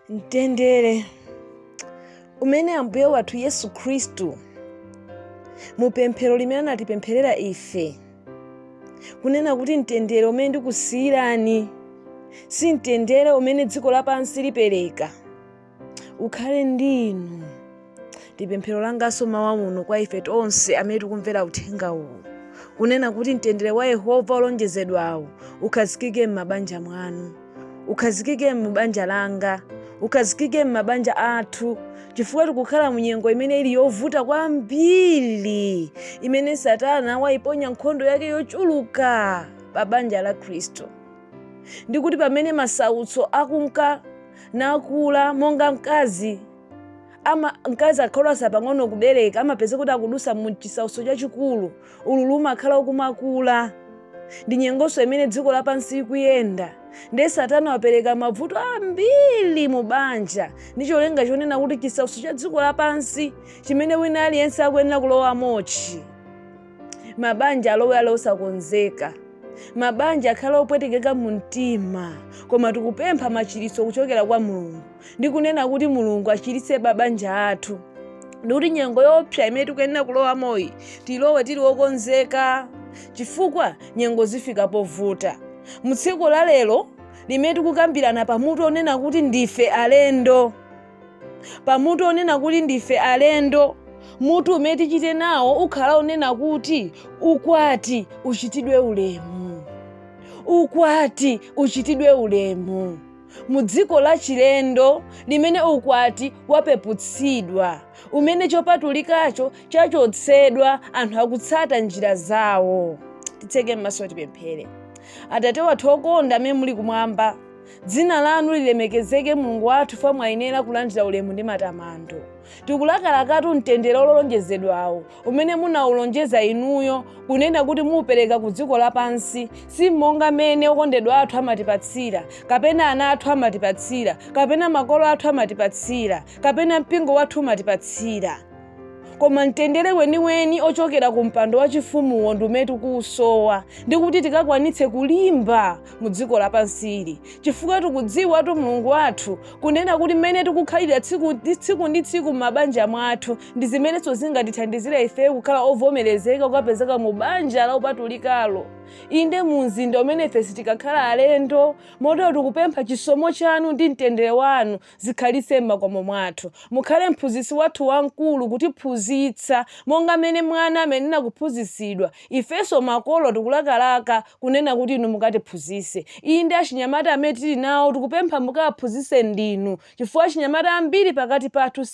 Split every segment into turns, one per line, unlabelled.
mtendere umene ambuye wathu yesu khristu mu pemphero limene anatipempherera ife kunena kuti mtendere umene ndikusiyirani si mtendere umene dziko lapansi lipereka ukhale ndi inu ndi pemphero langanso mawa muno kwa ife tonse amene tikumvera uthenga uwu kunena kuti mtendere wa yehova olonjezedwawo ukhazikike m'mabanja mwanu ukhazikike m'banja langa ukhazikike m'mabanja athu chifukwa tikukhala mu nyengo imene ili yovuta kwambiri imene satana wayiponya nkhondo yake yochuluka pa banja la khristu ndikuti pamene masautso akunka nakula monga mkazi ama mkazi akatsala pang'ono kubereka amapeza kuti akudusa mu chisautso chachikulu ululu umakhala ukumakula ndi nyengonso imene dziko lapansi ikuyenda ndiye satana wapereka mavuto ambiri mu banja ndi cholinga chonena kuti chisautso cha dziko lapansi chimene wina aliyense akuyenera kulowamochi mabanja alowe ali osakonzeka mabanja akhale opwetekeka mu mtima koma tikupempha machiritso kuchokera kwa mulungu ndi kunena kuti mulungu achiritse mabanja athu ndikuti nyengo yoopsa imene tikuyenera kulowamoyi tilowe tili okonzeka chifukwa nyengo zafika povuta mu tsiku la lero limene tikukambirana pamutu onena kuti ndife alendo pa mutu onena kuti ndife alendo mutu umene tichite nawo ukhala onena kuti ukwati uchitidwe ulemu ukwati uchitidwe ulemu mu dziko la chilendo limene ukwati wapeputsidwa umene chopatulikacho chachotsedwa anthu akutsata njira zawo titseke m'maso tipemphere atate wathu okonda amene muli kumwamba dzina lanu lilemekezeke mulungu wathu chifukwa mwayenera kulandira ulemu ndi matamando tikulakalakatu mtendere olonjezedwawo umene munawulonjeza inuyo kunena kuti muupereka ku dziko lapansi si monga mmene okondedwa athu amatipatsira kapena ana athu amatipatsira kapena makolo athu amatipatsira kapena mpingo wathu umatipatsira koma mtendere weniweni ochokera ku mpando wachifumuwo ndi umene tikuwusowa ndi kuti tikakwanitse kulimba mu dziko lapansili chifukwa tikudziwatu mulungu wathu kunena kuti mmene tikukhalira tsiku ndi tsiku m'mabanja mwathu ndi zimenenso zingatithandizire ifeyo kukhala ovomerezeka kukapezeka mu banja la upatulikalo inde mu mzinda umene ife sitikakhala alendo motero tikupempha chisomo chanu ndi mtendere wanu zikhalitse m'makomo mwathu. Mukhale Mphunzitsi wathu Wamkulu, kutiphunzitsa monga mmene mwana amayenera kuphunzitsidwa. Ifenso makolo tikulakalaka kunena kuti inu mukatiphunzitse. Inde, achinyamata amene tili nawo tikupempha mukawaphunzitse ndinu, chifukwa achinyamata ambiri pakati pathu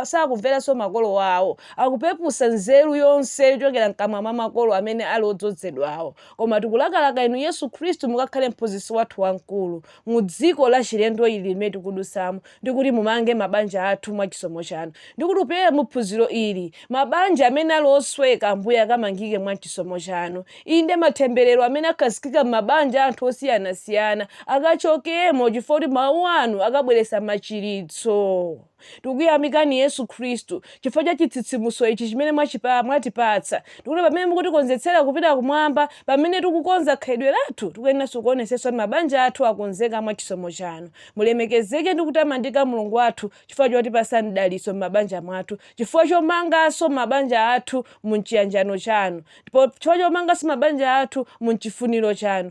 sakumveranso makolo awo. Akupeputsa nzeru yonse yochokera mkamwa mwa makolo amene ali odzodzedwawo. Koma tikulakalaka inu Yesu Khristu mukakhale Mphunzitsi wathu Wamkulu. mu dziko lachilendo ili limene tikudusamo, ndi kuti mumange mabanja athu mwa chisomo Chanu. Ndi kuti kupyolera mu phunziro ili, mabanja amene ali osweka, Ambuye, akamangike mwa chisomo Chanu. Inde, matemberero amene akhazikika m'mabanja a anthu osiyanasiyana akachokemo, chifukwa kuti Mawu Anu akabweretsa machiritso. Tikukuyamikani, Yesu Khristu, chifukwa cha chitsitsimutso ichi chimene mwatipatsa. Tikuti pamene mukutikonzetsera kupita kumwamba, pamene tikukonza khalidwe lathu, tikuyeneranso kuonetsetsa mabanja athu akonzeka mwa chisomo chanu. Mulemekezeke ndi kutamandika Mulungu wathu chifukwa chotipatsa mdalitso m'mabanja mwathu, chifukwa chomanganso mabanja athu mu chiyanjano chanu, chifukwa chomanganso mabanja athu mu chifuniro chanu.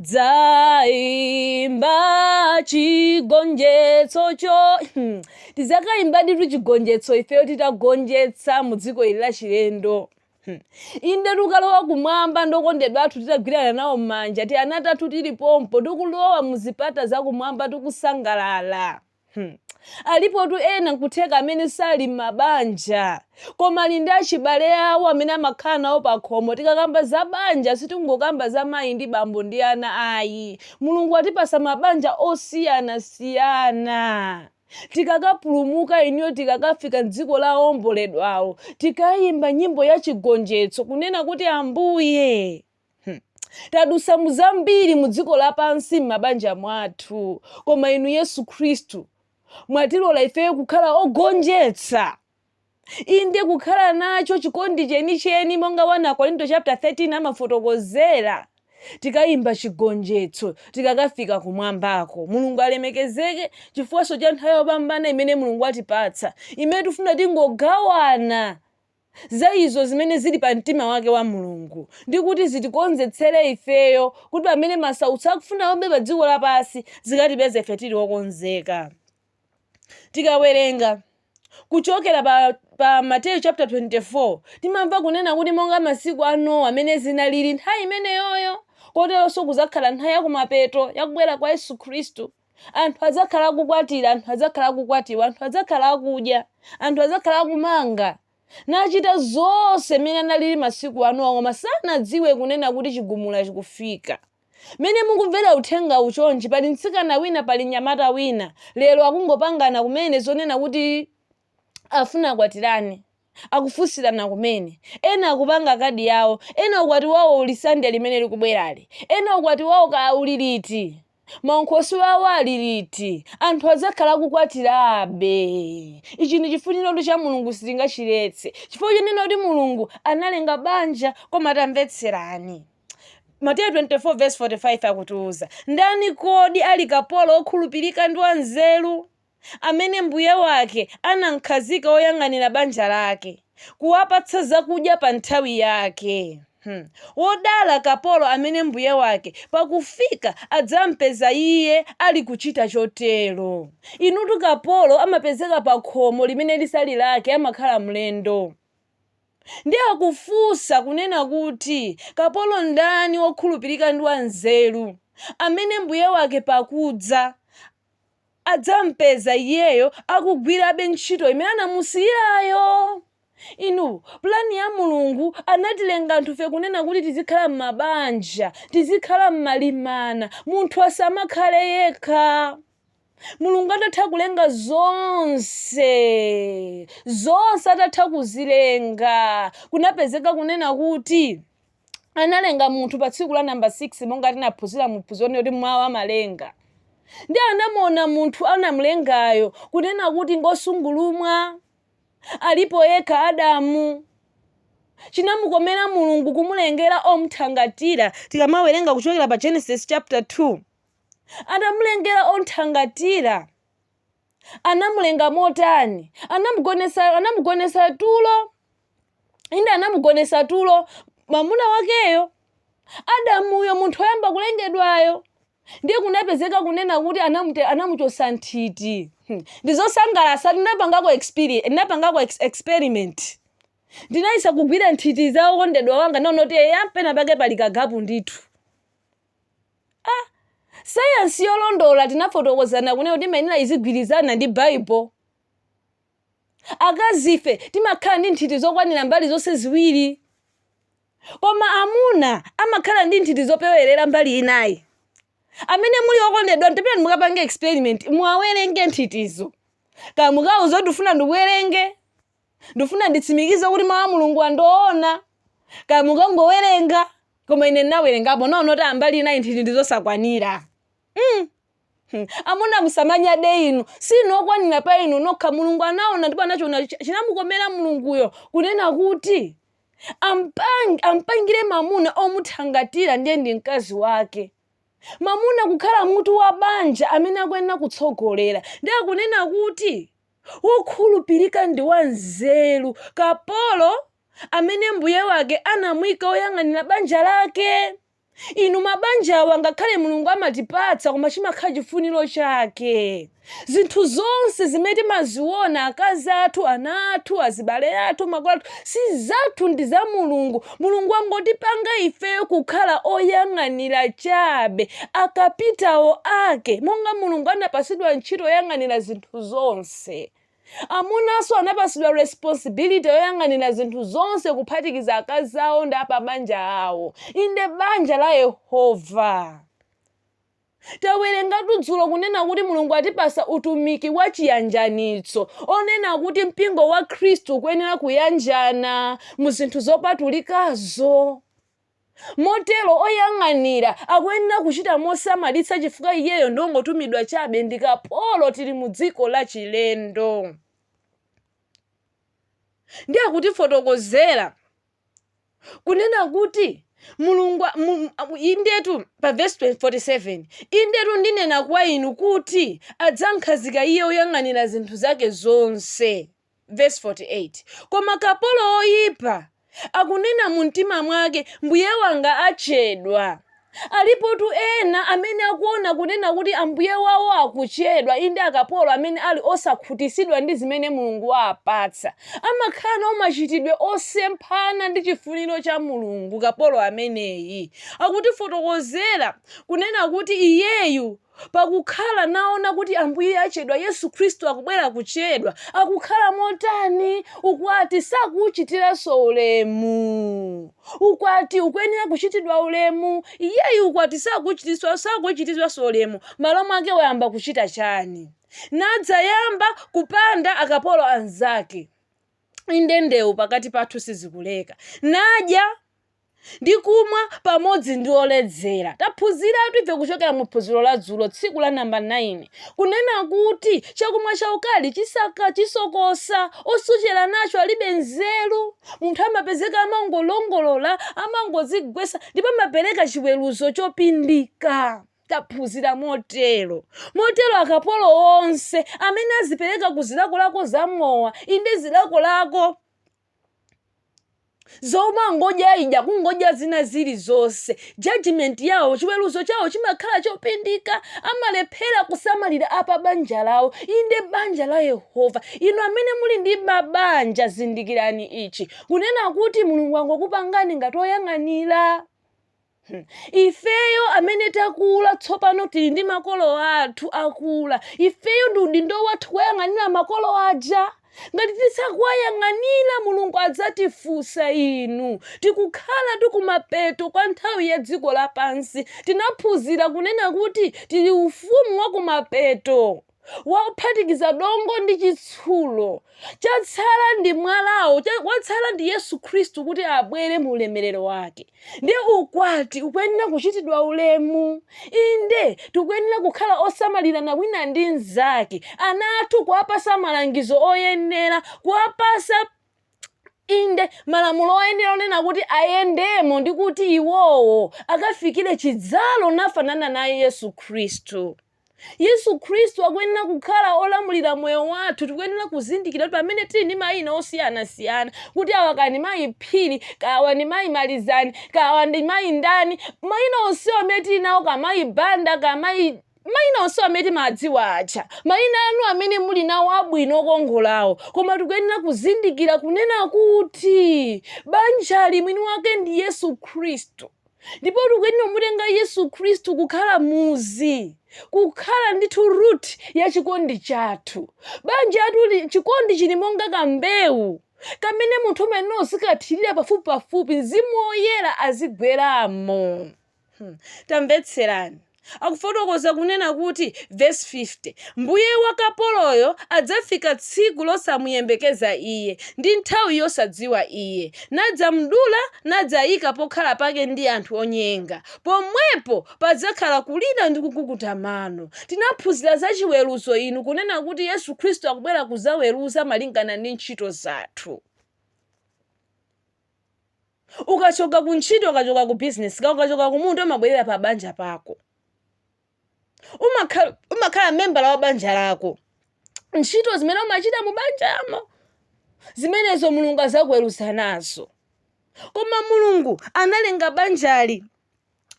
Dzaimba chigonjetsocho tizakaimba ditu chigonjetso ifeyo titagonjetsa mu dziko ili lachilendo inde tukalowa kumwamba ndokondedwa athu titagwirana nawo m'manja tiana tathu tili pompo tikulowa mu zipata za kumwamba tikusangalala alipotu ena nkutheka amene sali m'mabanja koma ali ndi achibale awo amene amakhala nawo pa khomo tikakamba za banja sitingokamba za mayi ndi bambo ndi ana ayi mulungu atipasa mabanja osiyanasiyana tikakapulumuka iniyo tikakafika mdziko la omboledwawo tikayimba nyimbo ya chigonjetso kunena kuti ambuye Tadusa muzambiri mu dziko lapansi m'mabanja mwathu, koma inu Yesu Khristu mwatilola ifeyo kukhala ogonjetsa. Inde kukhala nacho chikondi chenicheni monga 1 Akorinto chapter 13 amafotokozera tikayimba chigonjetso tikakafika kumwambako. Mulungu alemekezeke chifukwanso cha nthawi yopambana imene Mulungu atipatsa imene tifuna tingogawana za izo zimene ziri pa mtima wake wa Mulungu, ndi kuti zitikonzetsere ifeyo kuti pamene masautso akufuna aombe pa dziko lapansi, zikatipeze ife tiri okonzeka. Tikawerenga kuchokera pa Mateyu chapter 24, timamva kunena kuti monga masiku a Nowa amene zinaliri nthawi imeneyoyo, koteronso kuzakhala nthawi ya kumapeto ya kubwera kwa Yesu Khristu. Anthu adzakhala akukwatira, anthu adzakhala akukwatiwa, anthu adzakhala akudya, anthu adzakhala akumanga, nachita zonse mmene analili masiku a Nowa, koma sanadziwe kunena kuti chigumula chikufika. Mmene mukumvera uthengawu chonchi, pali mtsikana wina, pali mnyamata wina, lero akungopangana kumene zonena kuti afuna akwatirane akufunsirana kumene, ena akupanga kadi yawo, ena ukwati wawo uli Sunday limene likubwerali, ena ukwati wawo kaya uli liti, maunkhoswe awo ali liti, anthu adzakhala akukwatirabe. Ichi ndi chifuniro cha Mulungu sitingachiletse chifukwa chonena kuti Mulungu analenga banja koma tamvetserani Mateyu 24 verse 45 akutiuza ndani kodi ali kapolo wokhulupirika ndi wanzeru? amene mbuye wake anamkhazika woyang'anira banja lake, kuwapatsa zakudya pa nthawi yake. Hmm. Wodala kapolo amene mbuye wake pakufika adzampeza iye ali kuchita chotero. Inutu kapolo amapezeka pa khomo limene lisali lake, amakhala mlendo. Ndiye akufunsa kunena kuti, kapolo ndani wokhulupirika ndi wanzeru, amene mbuye wake pakudza adzampeza iyeyo akugwirabe ntchito imene anamusiyirayo. Inu, pulani ya Mulungu, anatilenga anthufe kunena kuti tizikhala m'mabanja, tizikhala m'malimana, munthu asamakhale yekha. Mulungu atatha kulenga zonse, zonse atatha kuzilenga, kunapezeka kunena kuti, analenga munthu pa tsiku la namba 6 monga tinaphunzira mu phunziro lino kuti mwawo amalenga ndi anamuona munthu anamlengayo kunena kuti ngosungulumwa alipo yekha adamu chinamukomera mulungu kumulengera omthangatira tikamawerenga kuchokera pa genesis chapter 2 anamulengera omthangatira anamulenga motani anamugonesa anamugonesa tulo inde anamugonesa tulo mwamuna wakeyo adamuyo munthu oyamba kulengedwayo ndiye kunapezeka kunena kuti anamute- anamuchosa nthiti Hmm. ndizosangalasa ndinapangako experience ndinapangako ex experiment ndinayesa kugwira nthiti za okondedwa wanga naona kuti eya pena pake pali kagapu ndithu sayansi yolondola tinafotokozana kunena kuti imayenera izigwirizana ndi baibulo Akazife timakhala ndi nthiti zokwanira mbali zonse ziwiri. Koma amuna amakhala ndi nthiti zopewerera mbali inayi. Amene muli okondedwa tapitani mukapange experiment muwawerenge nthitizo. Kaya mukawauze kuti ndikufuna ndikuwerenge, ndikufuna nditsimikize kuti mawu a Mulunguwa ndi oona, kaya mukangowerenga, koma ine ndinawerengapo, ndinaona kuti a mbali inayi nthiti ndi zosakwanira. mm. Hmm. Amuna musamanyade inu, si inu okwanira pa inu nokha. Mulungu anaona ndipo anachiona chi- chinamukomera Mulunguyo kunena kuti ampang- ampangire mamuna omuthangatira ndiye ndi mkazi wake mamuna kukhala mutu wa banja amene akuyenera kutsogolera ndi akunena kuti wokhulupirika ndi wanzeru kapolo amene mbuye wake anamuyika woyang'anira banja lake Inu mabanjawa ngakhale Mulungu amatipatsa koma chimakhala chifuniro chake. Zinthu zonse zimene timaziona akazi athu, ana athu, azibale athu, makolo athu si zathu ndi za Mulungu. Mulungu wangotipanga ifeyo kukhala oyang'anira chabe, akapitawo ake monga Mulungu anapatsidwa ntchito yoyang'anira zinthu zonse. Amunanso anapatsidwa responsibility yoyang'anira zinthu zonse kuphatikiza akazi awo ndi apabanja awo, inde banja la Yehova. Tawerengatu dzulo kunena kuti Mulungu atipatsa utumiki wa chiyanjanitso onena kuti mpingo wa Khristu ukuyenera kuyanjana mu zinthu zopatulikazo. Motero oyang'anira akuyenera kuchita mosamalitsa chifukwa iyeyo ndi ongotumidwa chabe ndi kapolo tili mu dziko la chilendo. Ndiye akutifotokozera kunena kuti Mulungu, indetu, pa vesi 47, indetu ndinena kwa inu kuti adzamkhazika iye oyang'anira zinthu zake zonse. Vesi 48, Koma kapolo woyipa akunena mu mtima mwake, mbuye wanga achedwa. Alipotu ena amene akuona kunena kuti ambuye wawo akuchedwa, inde akapolo amene ali osakhutisidwa ndi zimene Mulungu waapatsa, amakhala nawo machitidwe osemphana ndi chifuniro cha Mulungu kapolo ameneyi akutifotokozera kunena kuti iyeyu. Pakukhala naona kuti Ambuye achedwa Yesu Khristu akubwera kuchedwa, akukhala motani ukwati sakuuchitiranso ulemu. Ukwati ukuyenera kuchitidwa ulemu, iyeyu ukwati sakuuchititswa sakuuchititswanso ulemu, malo mwake wayamba kuchita chani? Nadzayamba kupanda akapolo anzake. Inde ndeu pakati pathu sizikuleka. Nadya. ndi kumwa pamodzi ndi oledzera. Taphunziratu ife kuchokera mu phunziro la dzulo tsiku la namba 9 kunena kuti chakumwa chaukali chisaka chisokosa osochera nacho alibe nzeru. Munthu amapezeka amangolongolola amangozigwesa ndipo amapereka chiweruzo chopindika. Taphunzira motero. Motero akapolo onse amene azipereka ku zilakolako za mowa inde zilakolako. zomangodya ija kungodya zina zili zonse judgment yawo chiweruzo chawo chimakhala chopindika amalephera kusamalira apa banja lawo inde banja la yehova inu amene muli ndi mabanja zindikirani ichi kunena kuti mulungu anakupangani ngati oyang'anira Hmm. ifeyo amene takula tsopano tili ndi makolo athu akula ifeyo ndi udindo wathu kuwayang'anira makolo aja ngati tisakuwayang'anira mulungu adzatifunsa inu tikukhala tikumapeto kwa nthawi ya dziko lapansi tinaphunzira kunena kuti tili ufumu wa kumapeto wophatikiza dongo ndi chitsulo. Chatsala ndi mwalawo, watsala ndi Yesu Khristu kuti abwere mu ulemerero wake. Ndiye ukwati ukuyenera kuchitidwa ulemu. Inde, tikuyenera kukhala osamalirana wina ndi mnzake. Ana athu kuwapasa malangizo oyenera, kuwapasa inde malamulo oyenera kunena kuti ayendemo ndi kuti iwowo akafikire chidzalo nafanana naye Yesu Khristu. Yesu Khristu akuyenera kukhala olamulira moyo wathu, tikuyenera kuzindikira kuti pamene tili ndi mayina osiyanasiyana, kuti awa kaya ndi mayi Phiri, kaya awa ndi mayi Malizani, kaya awa ndi mayi ndani, mayina onsewa amene tili nawo, kaya mayi Banda, kaya mayi mayina onsewa amene timawadziwa aja, mayina anu amene muli nawo abwino okongolawo, koma tikuyenera kuzindikira kunena kuti banjali mwini wake ndi Yesu Khristu. Ndipo tikuyenera kumutenga Yesu Khristu kukhala muzu, kukhala ndithu root ya chikondi chathu. Banja lathuli, chikondi chili monga kambewu kamene munthu umayenera uzikathirira pafupipafupi, Mzimu Woyera azigweramo. Hmm. Tamvetserani. akufotokoza kunena kuti, vesi 50, Mbuye wa kapoloyo adzafika tsiku losamuyembekeza iye, ndi nthawi yosadziwa iye, nadzamdula, nadzaika pokhala pake ndi anthu onyenga, pomwepo padzakhala kulira ndi kukukuta mano. Tinaphunzira za chiweruzo inu kunena kuti Yesu Khristu akubwera kudzaweruza malingana ndi ntchito zathu. Ukachoka ku ntchito, ukachoka ku business ka, ukachoka ku munda umabwerera pa banja pako. Uma- umakhala membala wa banja lako. Ntchito zimene umachita mu banjamo zimenezo Mulungu azakuweruza nazo. Koma Mulungu analenga banjali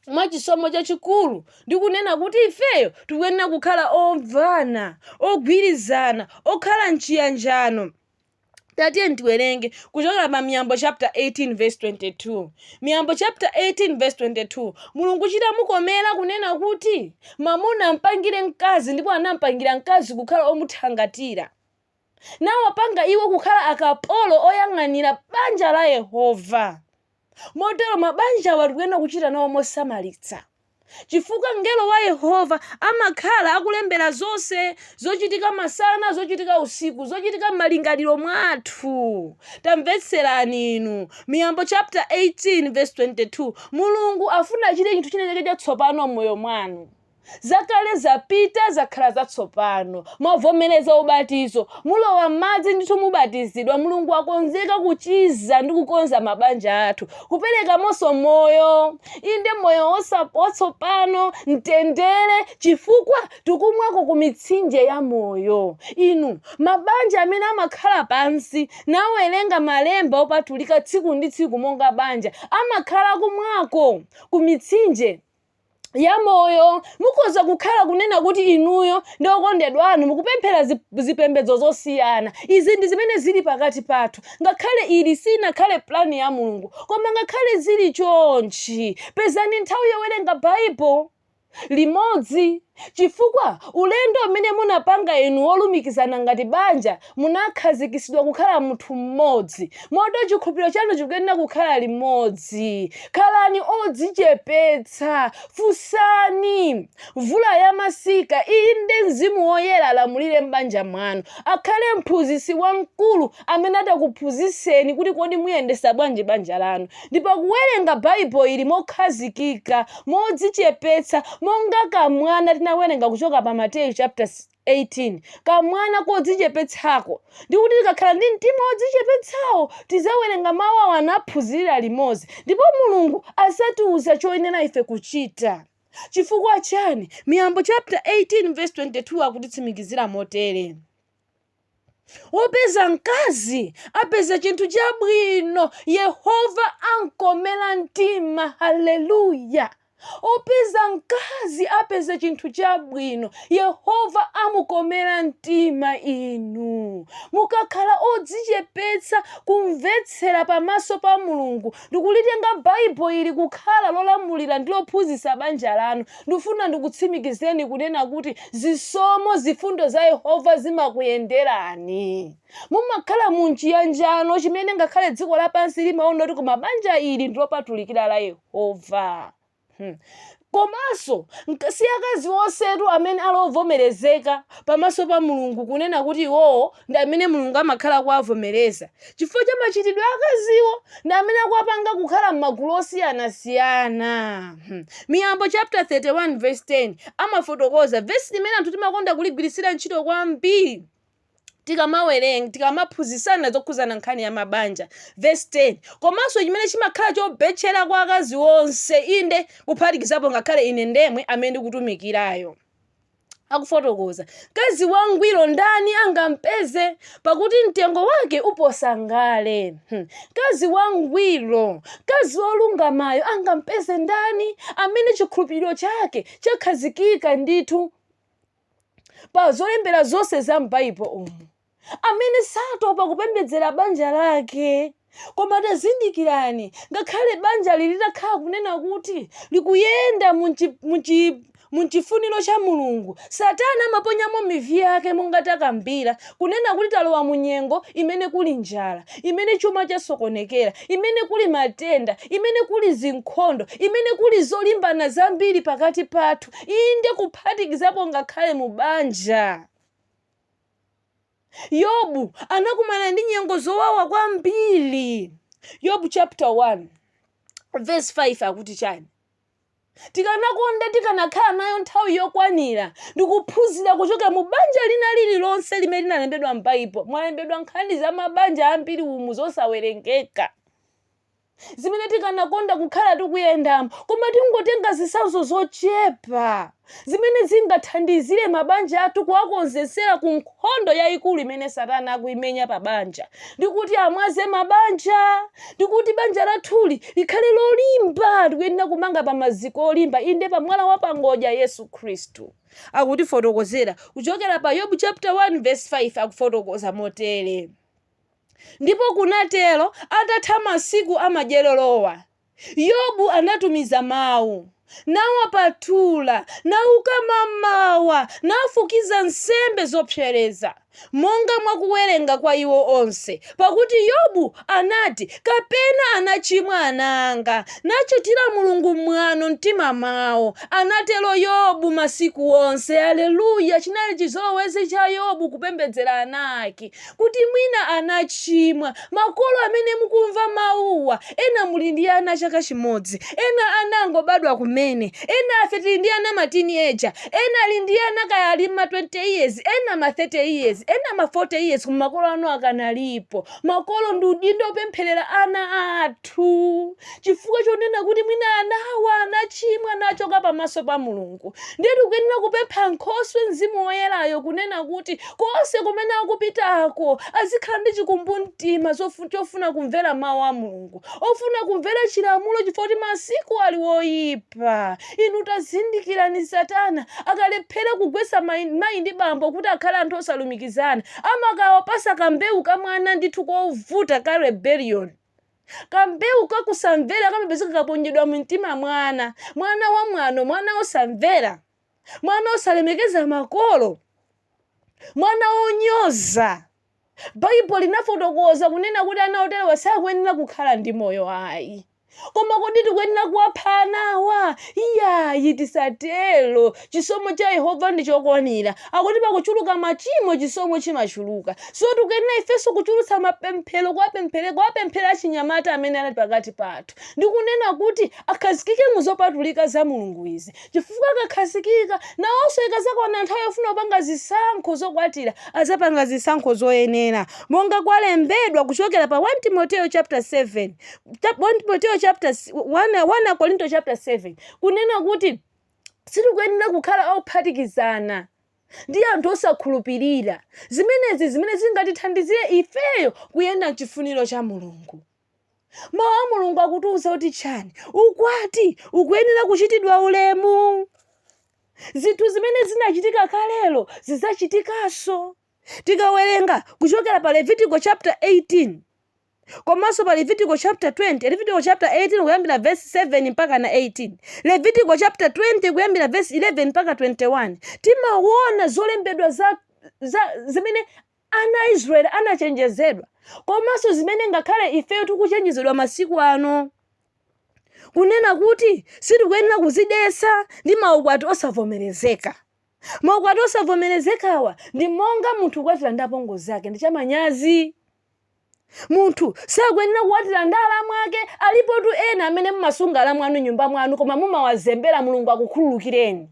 mwa chisomo chachikulu ndi kunena kuti ifeyo tikuyenera kukhala omvana, ogwirizana, okhala mchiyanjano. tatiyeni tiwerenge kuchokera pa miyambo chapter 18 verse 22 miyambo chapter 18 verse 22 mulungu chitamukomera kunena kuti mamuna ampangire mkazi ndipo anampangira mkazi kukhala omuthangatira nawapanga iwo kukhala akapolo oyang'anira banja la yehova Motero mabanjawa tikuyenera kuchita nawo mosamalitsa chifukwa mngelo wa Yehova amakhala akulembera zonse zochitika masana, zochitika usiku, zochitika m'malingaliro mwathu. Tamvetserani inu, Miyambo chapter 18 verse 22 Mulungu afuna achite chinthu china chake chatsopano m'moyo mwanu. Zakale zapita, zakhala zatsopano. Mwavomereza ubatizo. Mulowa m'madzi ndithu mubatizidwa. Mulungu akonzeka kuchiza ndi kukonza mabanja athu. Kuperekamonso moyo. Inde moyo watsopano, mtendere, chifukwa tikumwako ku mitsinje ya moyo. Inu, mabanja amene amakhala pansi nawerenga malemba opatulika tsiku ndi tsiku monga banja, amakhala kumwako ku mitsinje ya moyo mukhoza kukhala kunena kuti inuyo ndi okondedwa anu mukupemphera zipembedzo zosiyana izi ndi zimene zili pakati pathu ngakhale ili sinakhale plani ya mulungu koma ngakhale zili chonchi pezani nthawi yowerenga bible limodzi chifukwa ulendo umene munapanga inu wolumikizana ngati banja Munakhazikitsidwa kukhala munthu mmodzi, motero chikhulupiriro chanu chikuyenera kukhala limodzi. Khalani odzichepetsa. Funsani Mvula ya Masika, inde, Mzimu Woyera alamulire m'banja mwanu. Akhale Mphunzitsi Wamkulu amene atakuphunzitseni kuti kodi muyendetsa bwanji banja lanu. Ndipo kuwerenga Baibulo ili mokhazikika, modzichepetsa, monga kamwana tinawerenga kuchoka pa Mateyu chapter 18 kamwana kodzichepetsako, ndi kuti tikakhala ndi mtima wodzichepetsawo, tizawerenga mawu awa naphunzirira limodzi, ndipo Mulungu azatiuza choyenera ife kuchita. Chifukwa chiyani? Miyambo chapter 18 verse 22 akutitsimikizira motere. wopeza mkazi apeza chinthu chabwino yehova ankomera mtima haleluya opeza mkazi apeza chinthu chabwino yehova amukomera mtima inu mukakhala odzichepetsa kumvetsera pamaso pa mulungu Ndikulitenga Bible ili kukhala lolamulira ndi lophunzitsa banja lanu. Ndikufuna ndikutsimikizeni kunena kuti zisomo zifundo za Yehova zimakuyenderani. Mumakhala mu m'chiyanjano chimene ngakhale dziko lapansi limaona kuti koma banja ili ndilopatulikira la Yehova. Hmm. Komanso nk- si akazi onsetu amene ali ovomerezeka pamaso pa Mulungu kunena kuti iwowo ndi amene Mulungu amakhala akuwavomereza chifukwa cha machitidwe a akaziwo ndi amene akuwapanga kukhala m'magulu osiyanasiyana. Hmm. Miyambo chapter 31 verse 10 amafotokoza vesi limene anthu timakonda kuligwiritsira ntchito kwambiri tikamawerenga tikamaphunzitsana zokhudzana nkhani ya mabanja verse 10 komanso chimene chimakhala chobetchera kwa akazi onse inde kuphatikizapo ngakhale ine ndemwe amene ndikutumikirayo akufotokoza mkazi wangwiro ndani angampeze pakuti mtengo wake uposa ngale Hmm. mkazi wangwiro mkazi wolungamayo angampeze ndani amene chikhulupiriro chake chakhazikika ndithu pa zolembera zonse za m'Baibo umu, amene satopa kupembedzera banja lake. Koma tazindikirani, ngakhale banjali litakhala kunena kuti likuyenda mu chifuniro cha Mulungu, Satana amaponyamo mivi yake monga takambira, kunena kuti talowa mu nyengo imene kuli njala, imene chuma chasokonekera, imene kuli matenda, imene kuli zinkhondo, imene kuli zolimbana zambiri pakati pathu, inde kuphatikizapo ngakhale mu banja. Yobu anakumana ndi nyengo zowawa kwambiri. Yobu chapter 1 verse 5 akuti chani? tikanakonda tikanakhala nayo nthawi yokwanira ndikuphunzira kuchoka mu banja lina lililonse limene linalembedwa m'baibo mwalembedwa nkhani za mabanja ambiri umu zosawerengeka zimene tikanakonda kukhala tikuyendamo, koma tingotenga zitsanzo zochepa zimene zingathandizire mabanja athu kuwakonzetsera ku nkhondo yaikulu imene Satana akuimenya pa banja, ndi kuti amwaze mabanja, ndi kuti banja lathuli likhale lolimba. Tikuyenera kumanga pa maziko olimba, inde, pa mwala wa pangodya, Yesu Khristu. Akutifotokozera kuchokera pa Yobu chapter 1 verse 5, akufotokoza motere. Ndipo kunatero, atatha masiku amadyererowa, Yobu anatumiza mawu, nawapatula, nauka mamawa, nafukiza nsembe zopsereza, monga mwa kuwerenga kwa iwo onse, pakuti Yobu anati, Kapena anachimwa ana anga, nachitira Mulungu mwano m'mtima mwawo, anatero Yobu masiku onse. Aleluya! Chinali chizolowezi cha Yobu kupembedzera ana ake. kuti mwina anachimwa. Makolo amene mukumva mawuwa, ena muli ndi ana a chaka chimodzi, ena ana angobadwa kumene, enafe tili ndi ana ma teenager, ena ali ndi ana kaya ali mma 20 years, ena ma 30 years, ena ma 40 years koma makolo anu akanalipo. Makolo ndi udindo opempherera ana athu. chifukwa chonena kuti mwina anawa anachimwa nachoka pamaso pa Mulungu. Ndiye tikuyenera kupempha Nkhoswe Mzimu Woyerayo kunena kuti konse kumene akupitako azikhala ndi chikumbumtima zofu- chofuna kumvera mawu a Mulungu, ofuna kumvera chilamulo chifukwa kuti masiku ali oyipa. Inu tazindikirani Satana akalephera kugwetsa mayi mayi ndi bambo kuti akhale anthu osalumikizana, amakawapatsa kambewu ka mwana ndithu kovuta ka rebellion. Kambewu ka kusamvera kamapezeka kaponyedwa mu mtima mwa ana, mwana wamwano, mwana wosamvera, mwana wosalemekeza makolo, mwana wonyoza. Baibulo linafotokoza kunena kuti ana oterewa sakuyenera kukhala ndi moyo ayi. Koma kodi tikuyenera kuwapha anawa? Iyayi, tisatero. Chisomo cha Yehova ndi chokwanira. Akuti pakuchuluka machimo, chisomo chimachuluka. So tikuyenera ifenso kuchulutsa mapemphero, kuwapemphere- kuwapemphera achinyamata amene ali pakati pathu ndikunena kuti akhazikike mu zopatulika za Mulungu izi, chifukwa akakhazikika, nawonso ikadzakwana nthawi yofuna kupanga zisankho zokwatira, adzapanga zisankho zoyenera, monga kwalembedwa kuchokera pa 1 Timoteo chapter 7 cha- 1 Timoteo chapter si- 1 1 Akorinto chapter 7 kunena kuti Sitikuyenera kukhala ophatikizana ndi anthu osakhulupirira. Zimenezi zimene zingatithandizire ifeyo kuyenda m'chifuniro cha Mulungu. Mau a Mulungu akutiuza kuti chani? Ukwati ukuyenera kuchitidwa ulemu. Zinthu zimene zinachitika kalelo zidzachitikanso. Tikawerenga kuchokera pa Levitiko chapter 18. Komanso pa Levitiko chapter 20, Levitiko chapter 18 kuyambira vesi 7 mpaka na 18, Levitiko chapter 20 kuyambira vesi 11 mpaka 21, timaona zolembedwa za, za zimene ana a Israeli anachenjezedwa komanso zimene ngakhale ifeyo tikuchenjezedwa masiku ano kunena kuti sitikuyenera kuzidetsa ndi maukwati osavomerezeka. Maukwati osavomerezekawa ndi monga munthu kukwatira ndi apongozi ake ndi chamanyazi. munthu sakuyenera kukwatira ndi alamu ake alipotu ena amene mumasunga alamu anu m'nyumba mwanu koma mumawazembera mulungu akukhululukireni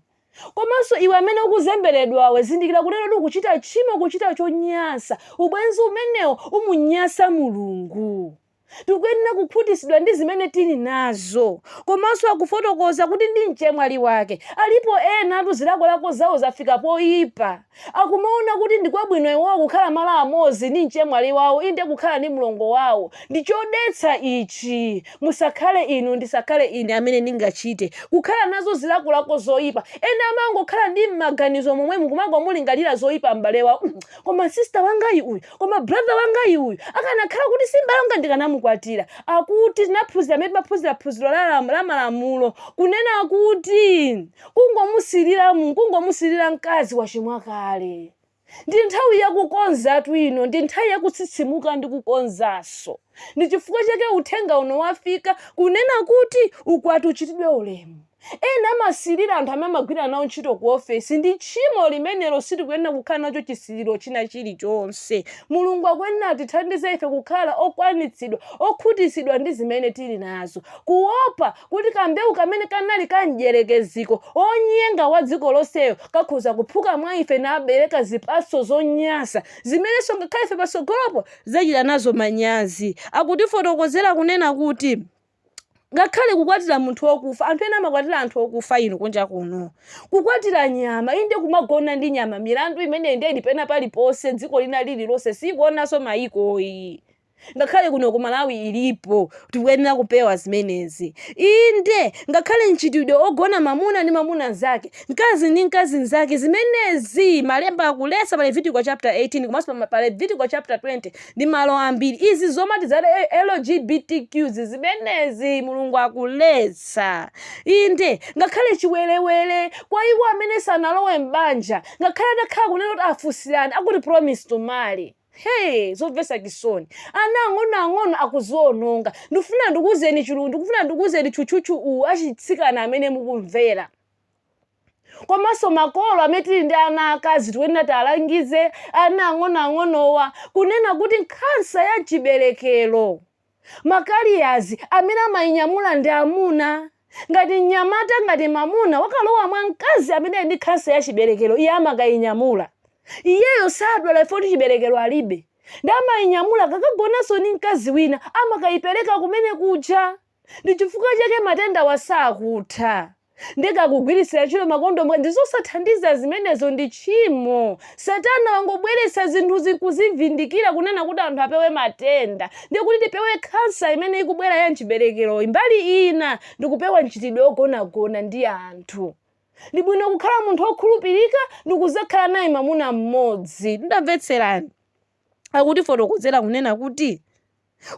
komanso iwe amene ukuzemberedwawe zindikira kuti lero ukuchita tchimo kuchita chonyasa ubwenzi umenewo umunyasa mulungu tikuyenera kukhutitsidwa ndi zimene tili nazo komanso akufotokoza kuti ndi mchemwali wake alipo enatu zilakolako zawo zafika poyipa Akumaona kuti ndi kwabwino iwowo kukhala malo amodzi ndi mchemwali wawo, inde, kukhala ndi mlongo wawo. Ndi chodetsa ichi! Musakhale inu, ndisakhale ine amene ndingachite. Kukhala nazo zilakolako zoipa. Ena amangokhala mmaganizo momwemu kumangomulingalira zoipa m'bale wawo, mm, koma sister wangayu uyu, koma brother wangayu uyu, akanakhala kuti si m'bale wanga ndikanamukwatira. Akuti tinaphunzira pamene timaphunzira phunziro la, la malamulo, kunena kuti. kungomusilira mu kungomusilira mkazi wachimwa kale ndi nthawi yakukonzatu ino ndi nthawi yakutsitsimuka ndi kukonzanso ndi chifukwa chake uthenga uno wafika kunena kuti ukwati uchitidwe ulemu ena amasilira anthu amene amagwira nawo ntchito ku ofesi ndi tchimo limenelo sitikuyenera kukhala nacho chisiliro china chilichonse mulungu akuyenera atithandize ife kukhala okwanitsidwa okhutitsidwa ndi zimene tili nazo kuopa kuti kambewu kamene kanali ka Mdyerekeziko, wonyenga wa dziko lonseyo, kakhoza kuphuka mwa ife nabereka zipatso zonyansa zimenenso ngakhale ife patsogolopo tidzachita nazo manyazi. Akutifotokozera kunena kuti, Ngakhale kukwatira munthu wokufa, anthu ena amakwatira anthu okufa inu kunja kuno. Kukwatira nyama, inde kumagona ndi nyama. Milandu imeneyi ndiye ili pena paliponse, dziko lina lililonse, siikuonanso mayikoyi. Ngakhale kuno ku Malawi ilipo. Tikuyenera kupewa zimenezi. Inde, ngakhale mchitidwe ogona mamuna ndi mamuna nzake, mkazi ndi mkazi nzake, zimenezi malemba akuletsa pa Levitiko chapter 18 komanso pa Levitiko chapter 20 ndi malo ambiri. Izi zomati za LGBTQ zi zimenezi Mulungu akuletsa. Inde, ngakhale chiwerewere kwa iwo amene sanalowe m'banja, ngakhale atakhala kunena kuti afunsirana akuti promise to marry. Hey! Zomvetsa chisoni. Ana ang'onoang'ono akuziononga. Ndikufuna ndikuuzeni chilungu, ndikufuna ndikuuzeni tchutchutchu uwu achitsikana amene mukumvera. Komanso makolo amene tili ndi ana akazi tikuyenera tialangize ana ang'onoang'onowa kunena kuti nkhansa ya mchiberekero Ma carriers amene amainyamula ndi amuna. Ngati mnyamata, ngati mwamuna wakalowa mwa mkazi amene ali ndi khansa ya chiberekero, iye amakainyamula. Iyeyo sadwala chifukwa choti chiberekero alibe. Ndiye amainyamula akakagonanso ndi mkazi wina, amakaipereka kumene kuja. Ndi chifukwa chake matendawa sakutha. nde kaya kugwiritsira ntchito makondomu ndi zosathandiza zimenezo ndi tchimo satana wangobweretsa zinthu zikuzivindikira kunena kuti anthu apewe matenda ndi kuti tipewe khansa imene ikubwera ya mchiberekero mbali ina ndi kupewa mchitidwe wogonagona ndi anthu ndi bwino kukhala munthu wokhulupirika ndi kuzakhala naye mamuna mmodzi ndiye tamvetserani akutifotokozera kunena kuti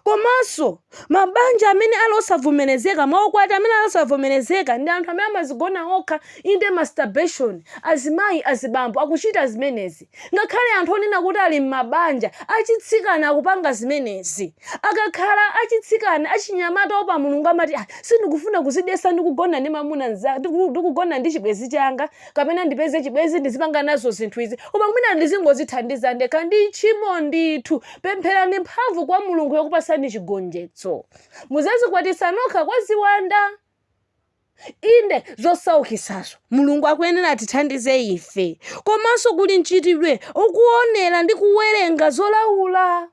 Komanso, mabanja amene ali osavomerezeka, maukwati amene ali osavomerezeka, ndi anthu amene amazigona okha, inde, masturbation, azimayi, azibambo akuchita zimenezi. Ngakhale anthu onena kuti ali m'mabanja achitsikana akupanga zimenezi. Akakhala achitsikana, achinyamata owopa Mulungu amati, sindikufuna kuzidetsa ndi kugona ndi mwamuna mnzanga, ndi kugona ndi chibwenzi changa, kapena ndipeze chibwenzi ndizipanga nazo zinthu izi, koma mwina ndizingozithandiza ndekha. Ndi tchimo ndithu! Pempherani mphamvu kwa Mulungu yokupatsani chigonjetso. Muzazikwatitsa nokha kwa ziwanda. Inde zosaukisazo Mulungu akuyenera atithandize ife. Komanso kuli mchitidwe okuonera ndi kuwerenga zolaula.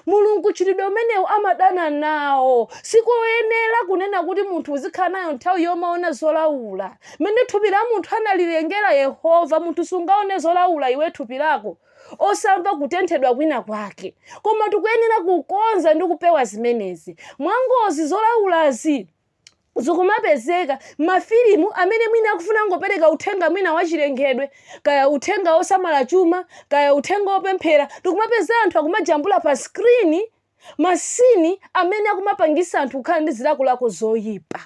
Mulungu mchitidwe umenewu amadana nawo. Sikoyenera kunena kuti munthu uzikhala nayo nthawi yomaona zolaula. Mmene thupi la munthu analilengera Yehova, munthu sungaone zolaula iwe thupi lako. osamva kutenthedwa kwina kwake koma tikuyenera kukonza ndi kupewa zimenezi mwangozi zolaulazi zikumapezeka mafilimu amene mwina akufuna kungopereka uthenga mwina wachilengedwe kaya uthenga wosamala chuma kaya uthenga wopemphera tikumapeza anthu akumajambula pa skrini masini amene akumapangisa anthu kukhala ndi zilakolako zoyipa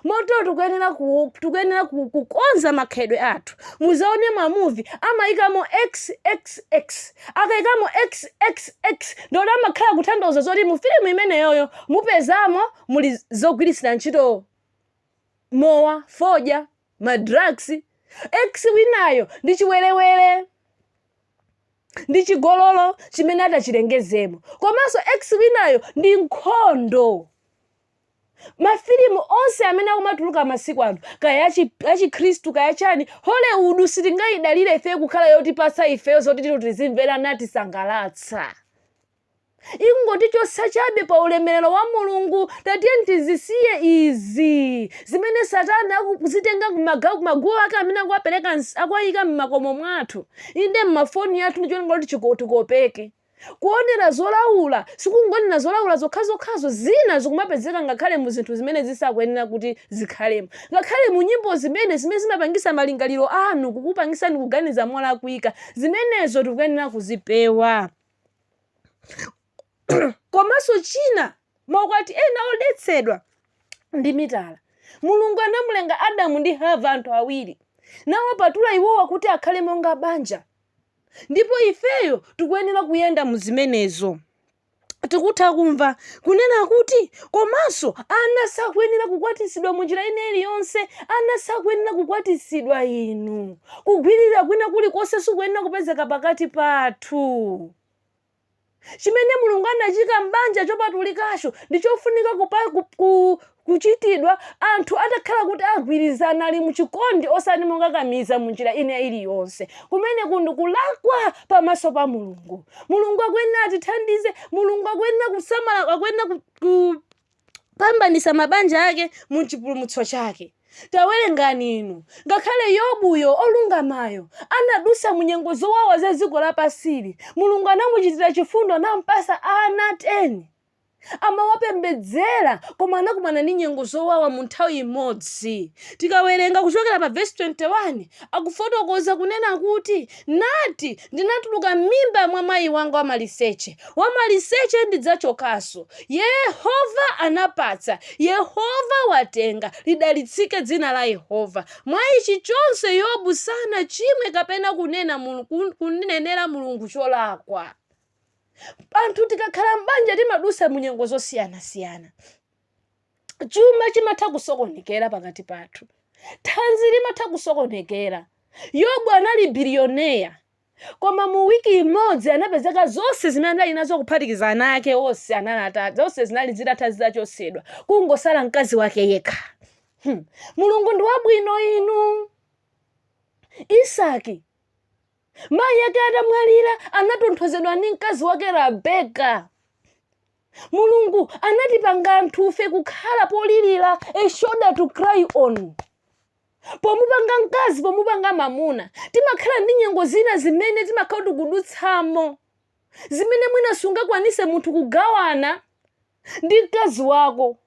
moto tikuyenera tikuyenera kukonza makhalidwe athu muzaone mamuvi amayikamo xxx akayikamo xxx ndikuti amakhala akutanthauza zoti mu filimu imeneyoyo mupezamo muli zogwiritsira ntchito mowa fodya madrugs x winayo ndi chiwerewere ndi chigololo chimene atachilengezemo komanso x winayo ndi nkhondo mafilimu onse amene akumatuluka masiku ano kaya achikhristu kaya chani hollywood sitingayidalire ife kukhala yotipatsa ifeyo zoti tito tizimvera natisangalatsa ingotichotsa chabe pa ulemerero wa mulungu tatiyeni tizisiye izi zimene satana akuzitenga kumaguwa ake amene akuwapereka akuwayika m'makomo mwathu inde m'mafoni athu ndicholinga choti chiko- tikopeke Kuonera zolaula sikungoonera zolaula zokhazokhazo, zina zikumapezeka ngakhale mu zinthu zimene zisakuyenera kuti zikhalemo. Ngakhale mu nyimbo zimene, zimene zimapangisa malingaliro anu, kukupangisani kuganiza molakwika, zimenezo tikuyenera kuzipewa. Komanso china, maukwati ena odetsedwa ndi mitala. Mulungu anamulenga Adamu ndi Hava, anthu awiri, nawapatula iwowa kuti akhale monga banja. Ndipo ifeyo tikuyenera kuyenda mu zimenezo. Tikutha kumva kunena kuti, Komanso, ana sakuyenera kukwatitsidwa mu njira ina iliyonse. Ana sakuyenera kukwatitsidwa, inu. Kugwiririra kwina kulikonse sikukuyenera kupezeka pakati pathu. chimene Mulungu anaika m'banja chopatulikacho ndi chofunika kupa, ku, ku, kuchitidwa anthu atakhala kuti agwirizana ali mu chikondi osati mokakamiza mu njira ina iliyonse kumeneku ndi kulakwa pamaso pa Mulungu Mulungu akuyenera atithandize Mulungu akuyenera kusamala akuyenera ku, ku, kupambanitsa mabanja ake mu chipulumutso chake. Tawerengani inu, ngakhale Yobuyo, olungamayo, anadutsa mu nyengo zowawa za dziko lapansili, Mulungu anamuchitira chifundo nampatsa ana 10. Amawapembedzera, koma anakumana ndi nyengo zowawa mu nthawi imodzi. Tikawerenga kuchokera pa vesi 21, akufotokoza kunena kuti Nati, Ndinatuluka m'mimba mwa mayi wanga wamaliseche, wamaliseche ndidzachokanso. Yehova anapatsa, Yehova watenga, lidalitsike dzina la Yehova. Mwa ichi chonse Yobu sanachimwe kapena kunena kunenera Mulungu cholakwa. Anthu tikakhala m'banja timadutsa mu nyengo zosiyanasiyana. chuma chimatha kusokonekera pakati pathu thanzi limatha kusokonekera yobu anali biliyoneya koma mu wiki imodzi anapezeka zonse zimene anali nazo kuphatikiza ana ake onse anali ata zonse zinali zitatha zitachotsedwa kungosala mkazi wake yekha hmm. mulungu ndi wabwino inu isaki mayi ake atamwalira anatonthozedwa ndi mkazi wake rebeka Mulungu anatipanga anthufe kukhala polirira, a shoulder to cry on. Pomupanga mkazi, pomupanga mamuna, timakhala ndi nyengo zina zimene timakhala tikudutsamo, zimene mwina sungakwanise munthu kugawana ndi mkazi wako,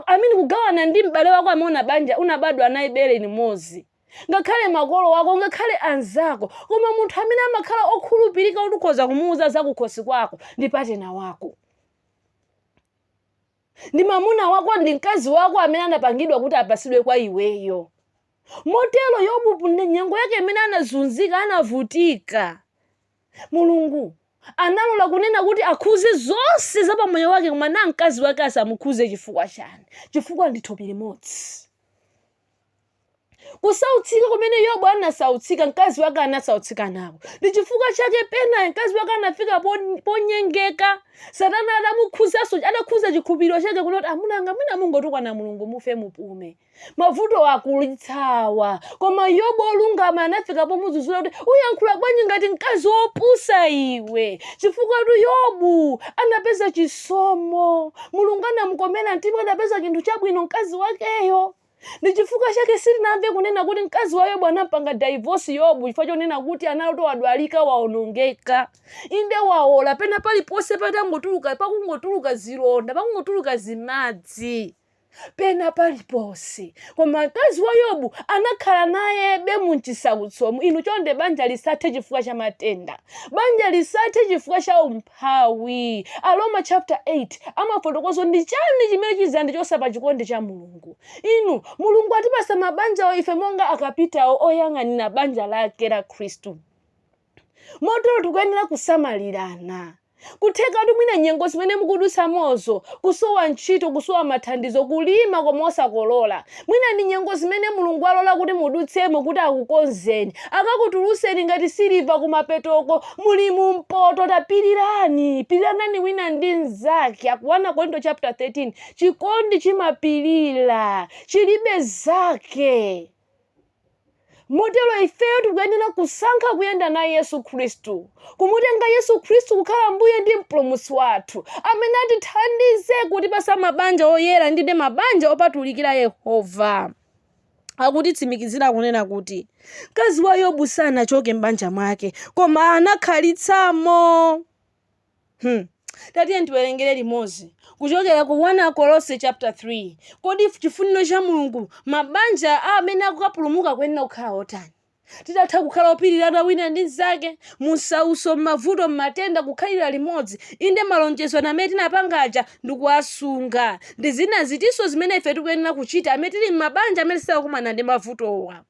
I mean kugawana ndi m'bale wako amene unabanja, unabadwa naye bere limodzi. ngakhale makolo ako, ngakhale anzako, koma munthu amene amakhala okhulupirika kuti ukhoza kumuuza zakukhosi kwako ndi patinala wako ndi mamuna wako ndi mkazi wako amene anapangidwa kuti apatsidwe kwa iweyo motero yobu nyengo yake imene anazunzika anavutika mulungu analola kunena kuti akhudze zonse za pamoyo wake koma na mkazi wake asamukhudze chifukwa chani chifukwa ndi thupi limodzi kusautsika kumene yobu anasautsika mkazi wake anasautsika nako ndi chifukwa chake pena mkazi wake anafika pon- ponyengeka satana adamukhudzanso adakhudza chikhulupiriro chake kunena kuti amuna anga mwina mungotukwana mulungu mufe mupume mavuto akulitsawa koma yobu olungama anafika pomudzudzula kuti uyankhula bwanji ngati mkazi wopusa iwe chifukwatu yobu anapeza chisomo mulungu anamukomera mtima anapeza chinthu chabwino mkazi wakeyo ndi chifukwa chake sitinamve kunena kuti mkazi wa yobu anampanga daivosi yobu chifukwa chonena kuti abalo wadwalika waonongeka inde waola pena paliponse patangotuluka pakungotuluka zilonda pakungotuluka zimadzi pena paliponse koma mkazi wa yobu anakhala nayebe m'chisautsomo inu chonde banja lisathe chifukwa cha matenda banja lisathe chifukwa cha umphawi Umphawi. Aroma chapter 8 amafotokoza ndi chani chimene chizandichosa pa chikondi cha Mulungu. Inu, Mulungu atipasa mabanjawo ife monga akapitawo oyang'anira banja lake la Khristu. Motero tikuyenera kusamalirana. Kuthekatu mwina nyengo zimene mukudutsamozo, kusowa ntchito, kusowa mathandizo, kulima koma osakolola, Mwina ndi nyengo zimene Mulungu alola kuti mudutsemo kuti akukonzeni, akakutuluseni ngati siliva kumapetoko muli mu mpoto tapilirani, piliranani wina ndi mzake Aku 1 Akorinto chapter 13 chikondi chimapilira chilibe zake. Motero ifeyo tikuyenera kusankha kuyenda naye Yesu Khristu, kumutenga Yesu Khristu kukhala Mbuye ndi Mpulumutsi wathu, amene atithandize kutipatsa mabanja oyera ndi mabanja opatulikira Yehova. Akutitsimikizira kunena kuti, Mkazi wa Yobu sanachoke m'banja mwake, koma anakhalitsamo. Hmm. Tatiye tiwerengere limodzi kuchokera ku Akolose chapter 3. Kodi chifuniro cha Mulungu mabanja a amene akukapulumuka akuyenera kukhala otani? Titatha kukhala opirirana wina ndi mnzake, mumsautso, m'mavuto, m'matenda, kukhalira limodzi, inde malonjezo amene tinapanga aja ndi kuwasunga. Ndi zina zitinso zimene ife tikuyenera kuchita amene tili m'mabanja amene sakukumana ndi mavutowa?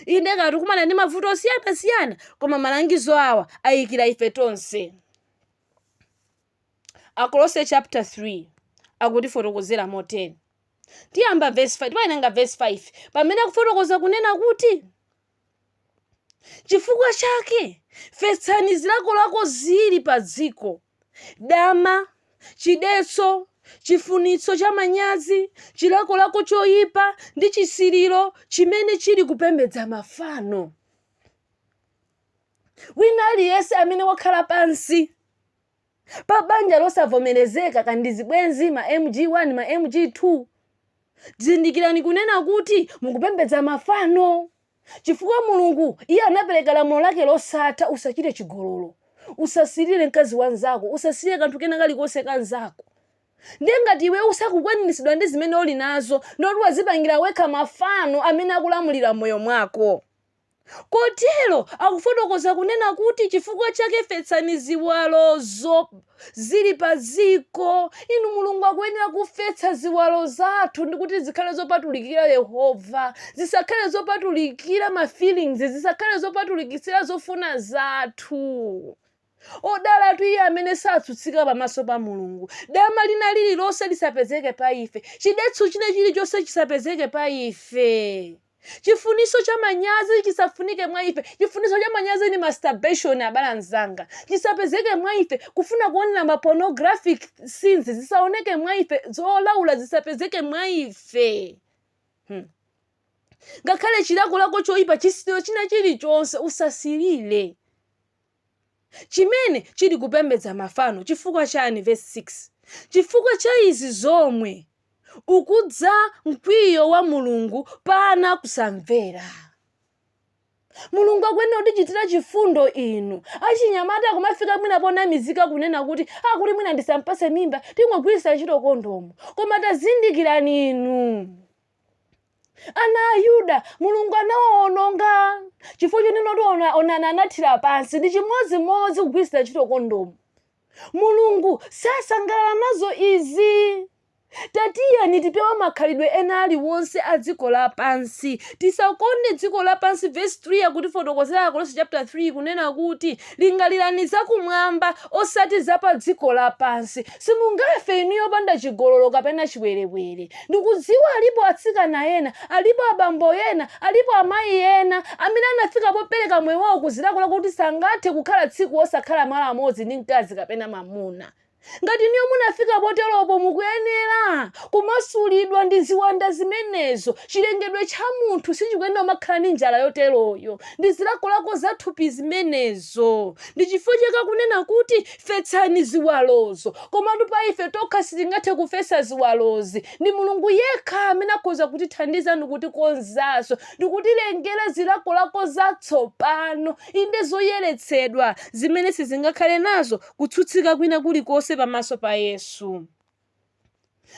inde kaya tikukumana ndi mavuto osiyanasiyana koma malangizo awa ayikira ife tonse akolose chapter 3 akutifotokozera motere tiyamba verse 5 tinawerenga verse 5 pamene akufotokoza kunena kuti chifukwa chake fetsani zilakolako ziri pa dziko dama, chidetso, chifunitso cha manyazi, chilakolako choyipa ndi chisiriro chimene chili kupembedza mafano. Wina aliyense amene wakhala pansi pa banja losavomerezeka kaya ndi zibwenzi ma MG1 ma MG2 zindikirani kunena kuti mukupembedza mafano. Chifukwa Mulungu, Iye anapereka lamulo Lake losatha, Usachite chigololo. Usasilire mkazi wa mzako. Usasilire kanthu kena kalikonse ka mzako. Ndiye ngati iwe usakukwaniritsidwa ndi zimene uli nazo, ndiye kuti wadzipangira wekha mafano amene akulamulira moyo wako. Kotero akufotokoza kunena kuti chifukwa chake fetsani ziwalozo. zili pa dziko. Inu, Mulungu akuyenera kufetsa ziwalo zathu ndi kuti zikhale zopatulikira Yehova. Zisakhale zopatulikira ma feelings, zisakhale zopatulikitsira zofuna zathu. Odalatu iye amene satsutsika pamaso pa Mulungu. Dama lina lililonse lisapezeke pa ife. Chidetso china chilichonse chisapezeke pa ife. Chifuniso cha manyazi chisafunike mwa ife. Chifuniso cha manyazi ni masturbation abale anzanga. Chisapezeke mwa ife. Kufuna kuonela ma pornographic scenes zisaoneke mwa ife. Zolaula zisapezeke mwa ife. Hmm. Ngakhale chilakolako choipa, chisiriro china chilichonse, usasirire. chimene chili kupembedza mafano chifukwa chani vesi 6 chifukwa cha izi zomwe ukudza mkwiyo wa mulungu pa ana a kusamvera mulungu akuyenera kutichitira chifundo inu achinyamata akumafika mwina ponamizika kunena kuti akuti mwina ndisampase mimba tingogwiritsa ntchito kondomu koma tazindikirani inu ana a yuda mulungu anawawononga chifukwa chonena kuti Onani anathira pansi ndi chimodzimodzi kugwiritsa ntchito kondomu mulungu sasangalala nazo izi tatiyeni tipewe makhalidwe ena aliwonse a dziko lapansi tisakonde dziko lapansi vesi 3 akutifotokozera akolose chapter 3 kunena kuti lingalirani zakumwamba osati za pa dziko lapansi Simungafe inuyo opanda chigololo kapena chiwerewere. Ndikudziwa alipo atsikana ena, alipo abambo ena, alipo amayi ena amene anafika popereka moyo wawo ku zilakolako kuti sangathe kukhala tsiku osakhala malo amodzi ndi mkazi kapena mamuna. Ngati inuyo munafika poteropo mukuyenera kumasulidwa ndi ziwanda zimenezo. Chilengedwe cha munthu sichikuyenera kumakhala ndi njala yoteroyo ndi zilakolako za thupi zimenezo. Ndi chifukwa chake akunena kuti Fetsani ziwalozo. Komatu pa ife tokha sitingathe kufetsa ziwalozi. Ndi Mulungu yekha amene akhoza kutithandiza ndi kutikonzanso, ndi kutilengera zilakolako zatsopano, inde zoyeretsedwa, zimene sizingakhale nazo kutsutsika kwina kulikonse pamaso pa Yesu.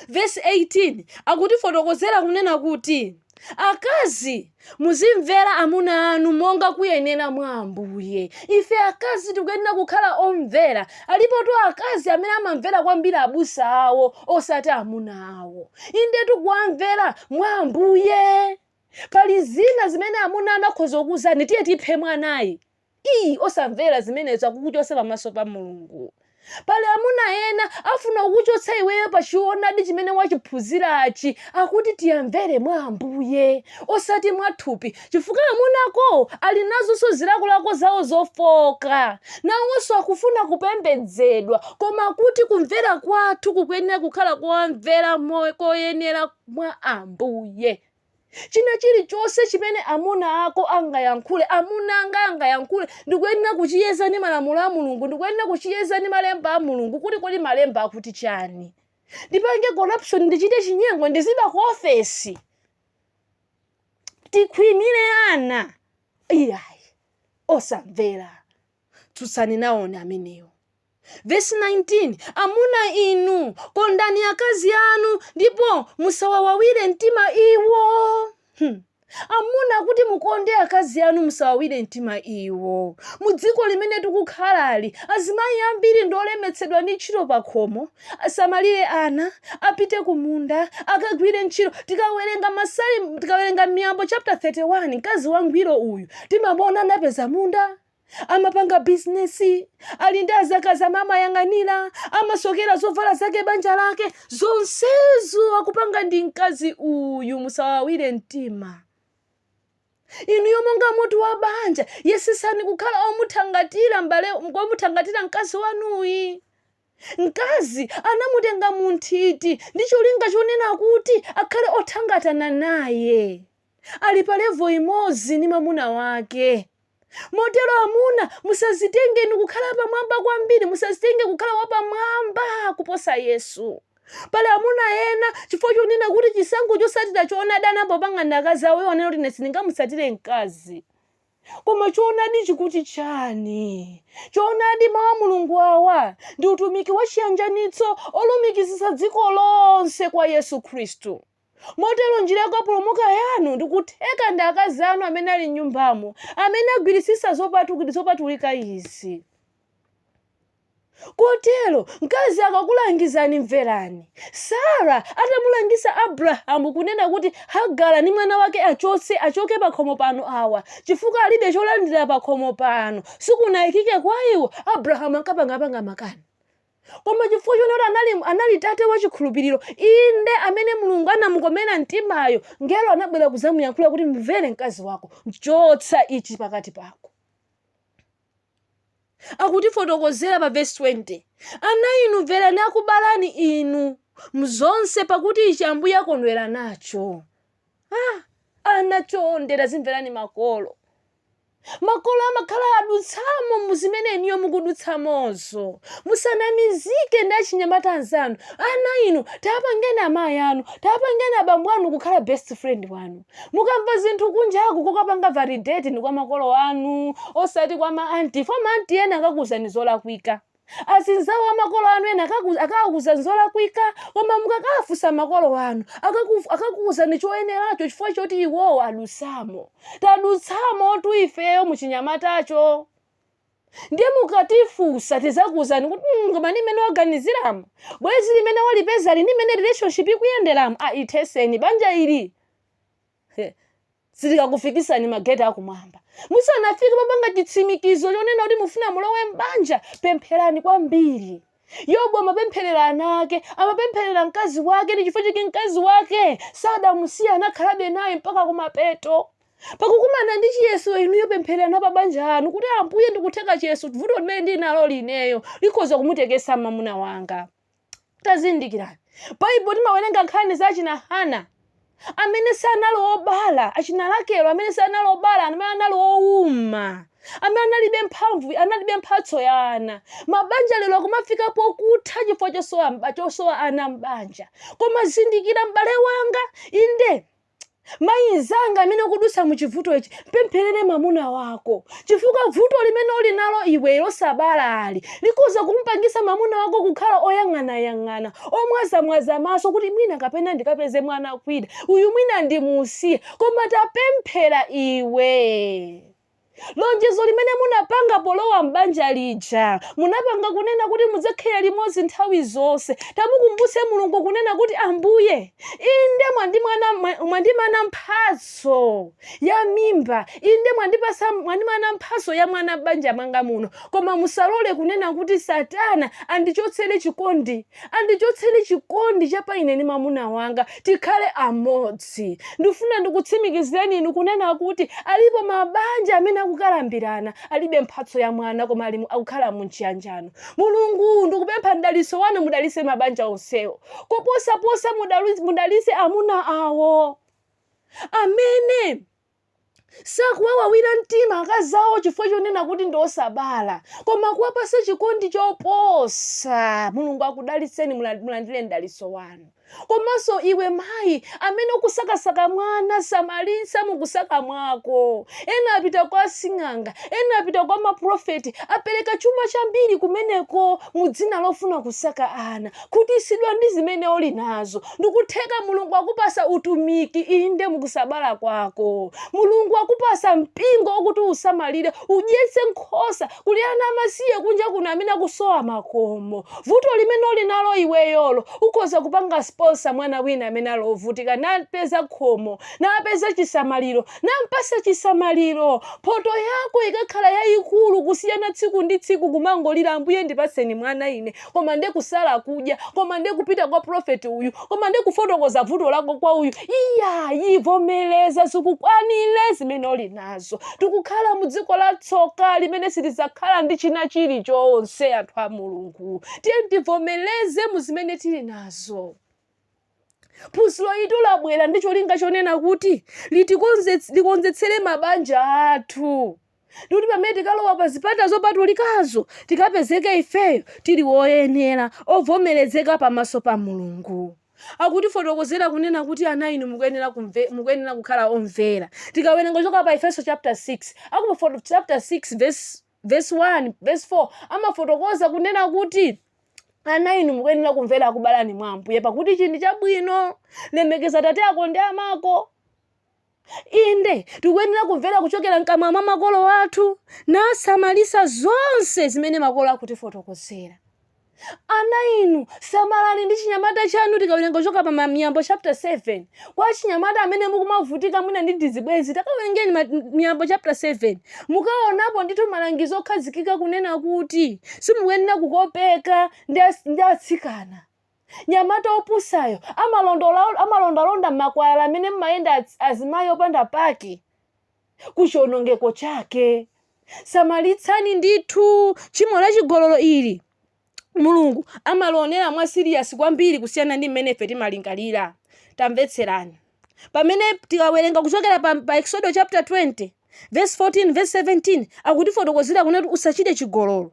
Vesi 18 akutifotokozera kunena kuti, Akazi, muzimvera amuna anu monga kuyenera mwa Ambuye. Ife akazi tikuyenera kukhala omvera. Alipotu akazi amene amamvera kwambiri abusa awo osati amuna awo. Indetu kuwamvera mwa Ambuye. Pali zina zimene amuna anu akhoza kukuuzani, tiye tiphe mwanayi. Iii osamvera zimenezo akukuchotsa pamaso pa Mulungu. Pali amuna ena afuna kukuchotsa iweyo pa choonadi chimene wachiphunzirachi akuti tiamvere mwa Ambuye osati mwa thupi chifukwa amuna ako ali nazonso zilakolako zawo zofooka. Nawonso akufuna kupembedzedwa koma kuti kumvera kwathu kukuyenera kukhala kuwamvera koyenera mwa Ambuye. China chilichonse chimene amuna ako angayankhule, amuna anga angayankhule, ndikuyenera kuchiyeza ndi malamulo a Mulungu, ndikuyenera kuchiyeza ndi malemba a Mulungu kuti kodi malemba akuti chani. Ndipange corruption, ndichite chinyengo, ndiziba ku ofesi, tikhwimire ana, iyayi, osamvera. Tsutsani nawoni amenewo. Vesi 19, Amuna inu, kondani akazi anu, ndipo musawawawire mtima iwo. Hmm. Amuna kuti mukonde akazi anu musawawire mtima iwo. Mu dziko limene tikukhalali, azimayi ambiri ndi olemetsedwa ndi ntchito pakhomo, asamalire ana, apite kumunda, akagwire ntchito. Tikawerenga Masalimo, tikawerenga Miyambo chapter 31, mkazi wangwiro uyu timamuona anapeza munda, amapanga bizinesi ali ndi adzakazi amene amayang'anira amasokera zovala zake banja lake zonsezo akupanga ndi mkazi uyu musawawire mtima inuyo monga mutu wa banja yesetsani kukhala omuthangatira m'bale womuthangatira mkazi wanuyi mkazi anamutenga munthiti ndi cholinga chonena kuti akhale othangatana naye ali pa level imodzi ndi mamuna wake. Motero amuna, musazitenge inu kukhala apamwamba kwambiri, musazitenge kukhala wapamwamba kuposa Yesu. Pali amuna ena chifukwa chonena kuti chisankho chotsatira choonadi anapanga ndi akazi awo iwo anena kuti ine sindingamutsatire mkazi. Koma choonadi chikuti chani? Choonadi mawu a Mulungu awa ndi utumiki wa chiyanjanitso wolumikizitsa dziko lonse kwa Yesu Khristu. Motero njira yakupulumuka yanu ndikutheka ndi akazi anu amene ali m'nyumbamo amene agwiritsitsa zopatu, zopatulika izi. Kotero, mkazi akakulangizani mverani. Sarah atamulangiza Abrahamu kunena kuti Hagara ndi mwana wake achotse, achoke pakhomo pano awa, chifukwa alibe cholandira pakhomo pano, sikunaikike kwaiwo, Abrahamu ankapangapanga makani. koma chifukwa chonena kuti anali, anali tate wa chikhulupiriro inde amene mulungu anamukomera mtimayo ngelo anabwera kudzamuyankhula kuti mvere mkazi wako chotsa ichi pakati pako akutifotokozera pa vesi 20 ana inu mverani akubalani inu mzonse pakuti ichi ambuye akondwera nacho ah, ana chonde tazimverani makolo Makolo amakhala adutsamo mu zimene inuyo mukudutsamozo. Musanamizike ndi achinyamata anzanu. Ana inu, tapangeni amayi anu, tapangeni abambo anu kukhala best friend wanu. Mukamva zinthu kunjaku kokapanga validate ndi kwa makolo anu osati kwa ma auntie, for ma auntie ena akakuuzani zolakwika. Azinzawo a makolo anu ena akakuuzani zolakwika, koma mukakawafunsa makolo anu akakuuzani choyeneracho chifukwa choti iwowo adutsamo. Tadutsamotu ifeyo muchinyamatacho. Ndiye mukatifunsa tidzakuuzani kuti "Mm, koma ndi mmene waganiziramo. Bwenzi limene walipezali ndi mmene relationship ikuyenderamu. Ah, ithetseni banja ili. He. silikakufikisani mageti akumwamba musanafike papanga chitsimikizo chonena kuti mufuna mulowe m'banja pempherani kwambiri yobu amapempherera ana ake amapempherera mkazi wake ndi chifukwa chake mkazi wake sadamusiya anakhalabe naye mpaka kumapeto pakukumana ndi chiyeso inuyo pemphereranani pa banja anu kuti ambuye ndikutheka chiyeso vuto limene ndili nalo ineyo likhoza kumutekesetsa mamuna wanga tazindikirani baibulo timawerenga nkhani za achina hana amene sanali obala achina rakele amene sanali obala amene anali owuma amene analibe mphamvu analibe mphatso ya ana mabanja lero akumafika pokutha chifukwa cho- chosowa ana m'banja koma zindikira m'bale wanga inde mayi mzanga amene ukudutsa mu chivuto ichi mpempherere mwamuna wako chifukwa vuto limene uli nalo iwe losabalali likhoza kumpangisa mwamuna wako kukhala oyang'anayang'ana omwazamwaza maso kuti mwina kapena ndikapeze mwana kwida uyu mwina ndimusiye koma tapemphera iwe Lonjezo limene munapanga polowa m'banja lija, munapanga kunena kuti mudzakhala limodzi nthawi zonse. Tamukumbutse Mulungu kunena kuti, Ambuye, inde mwandi- mwandimana mphatso ya mimba, inde mwandi- mwandimana mphatso ya mwana m'banja mwanga muno, koma musalole kunena kuti Satana andichotsere chikondi Andichotsere chikondi cha pa ine ndi mwamuna wanga, tikhale amodzi. Ndifuna ndikutsimikizireni inu kunena kuti alipo mabanja amene akukalambirana, alibe mphatso ya mwana koma ali- akukhala mu mchiyanjano. Mulungu, ndikupempha mdalitso wanu mudalitse mabanja onsewo. Koposaposa mudalu- mudalitse amuna awo amene Sakuwawawira mtima akazi awo chifukwa chonena kuti ndi osabala, koma akuwapasa chikondi choposa. Mulungu akudalitseni, mulandire mdalitso wanu. Komanso iwe mayi amene ukusakasaka mwana, samalitsa mukusaka mwako. Ena apita kwa asing'anga, ena apita kwa maprofeti, apereka chuma chambiri kumeneko mu dzina lofuna kusaka ana. khutisidwa ndi zimene uli nazo ndikutheka mulungu akupasa utumiki inde mukusabala kwako mulungu akupasa mpingo wokuti usamalire udyetse nkhosa kuli ana amasiye kunja kuno amene akusowa makomo vuto limene uli nalo iweyolo ukhoza kupanga sponsor mwana wina amene ali wovutika napeza khomo napeza chisamaliro nampasa chisamaliro mphoto yako ikakhala yayikulu kusiyana tsiku ndi tsiku kumangolira ambuye ndipatseni mwana ine koma nde kusala kudya koma nde kupita kwa prophet uyu koma nde kufotokoza vuto lako kwa uyu iyayi vomereza zikukwanire zimene uli nazo tikukhala mu dziko la tsoka limene sitizakhala ndi china chilichonse anthu a mulungu tiyeni tivomereze mu zimene tili nazo phunziro ilitu labwera ndi cholinga chonena kuti litikonzets- likonzetsere mabanja athu ndikuti pamene tikalowa pa zipata zopatulikazo tikapezeke ifeyo tili woyenera ovomerezeka pamaso pa mulungu akutifotokozera kunena kuti ana inu mukuyenera kumve- mukuyenera kukhala omvera tikawerenga kuchoka pa efeso chapter 6 akupa chapter 6 verse vesi 1 vesi 4 amafotokoza kunena kuti ana inu mukuyenera kumvera akubalani mwa ambuye pakuti ichi ndi chabwino lemekeza tate ako ndi amako inde tikuyenera kumvera kuchokera mkamwa mwa makolo athu nasamalisa zonse zimene makolo akutifotokozera Ana inu, samalani ndi chinyamata chanu tikawerenga kuchoka pa Miyambo chapter 7. Kwa achinyamata amene mukumavutika mwina ndi tizibwenzi, takawerengeni Miyambo chapter 7. Mukaonapo ndithu malangizo okhazikika kunena kuti simukuyenera kukopeka ndi atsikana. Mnyamata opusayo amalondalonda m'makwalala amene mmayenda azimayi opanda pake. ku chionongeko chake samalitsani ndithu tchimo la chigololo ili mulungu amalionera mwa serious kwambiri kusiyana ndi mmene ife timalingalira tamvetserani pamene tikawerenga kuchokera pa, pa exodo chapter 20 verse 14 verse 17 akutifotokozera kunena kuti usachite chigololo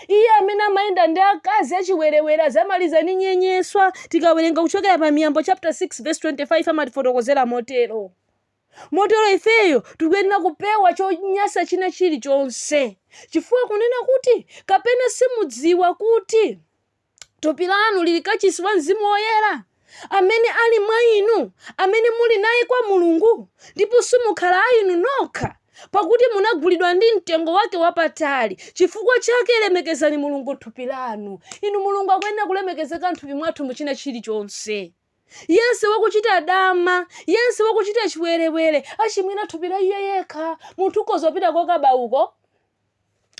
Iye amene amayenda ndi akazi achiwerewere adzamaliza ndi nyenyeswa. Tikawerenga kuchokera pa Miyambo chapter 6 vesi 25 amatifotokozera motero. Motero ifeyo tikuyenera kupewa chonyasa china chilichonse, chifukwa kunena kuti, Kapena simudziwa kuti thupi lanu lili kachisi wa Mzimu Woyera? amene ali mwa inu, amene muli naye kwa Mulungu, ndipo simukhala a inu nokha, pakuti munagulidwa ndi mtengo wake wapatali. Chifukwa chake lemekezani Mulungu m'thupi lanu. Inu, Mulungu akuyenera kulemekezeka m'thupi mwathu mu china chilichonse. Yense wakuchita dama, yense wakuchita chiwerewere, achimwira thupi la iye yekha. Munthu ukhoza kupita kokaba uko,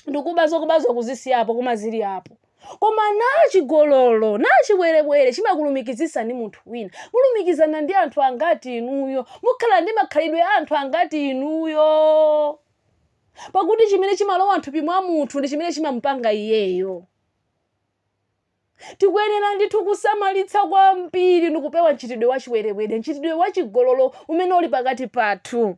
ndikuba zokubazo kuzisiyapo koma zili apo koma nachigololo nachiwerewere chimakulumikizisa ndi munthu wina mulumikizana ndi anthu angati inuyo mukhala ndi makhalidwe a anthu angati inuyo pakuti chimene chimalowa mthupi mwa munthu ndi chimene chimamupanga iyeyo tikuyenera ndithu kusamalitsa kwambiri ndikupewa mchitidwe wachiwerewere mchitidwe wachigololo umene uli pakati pathu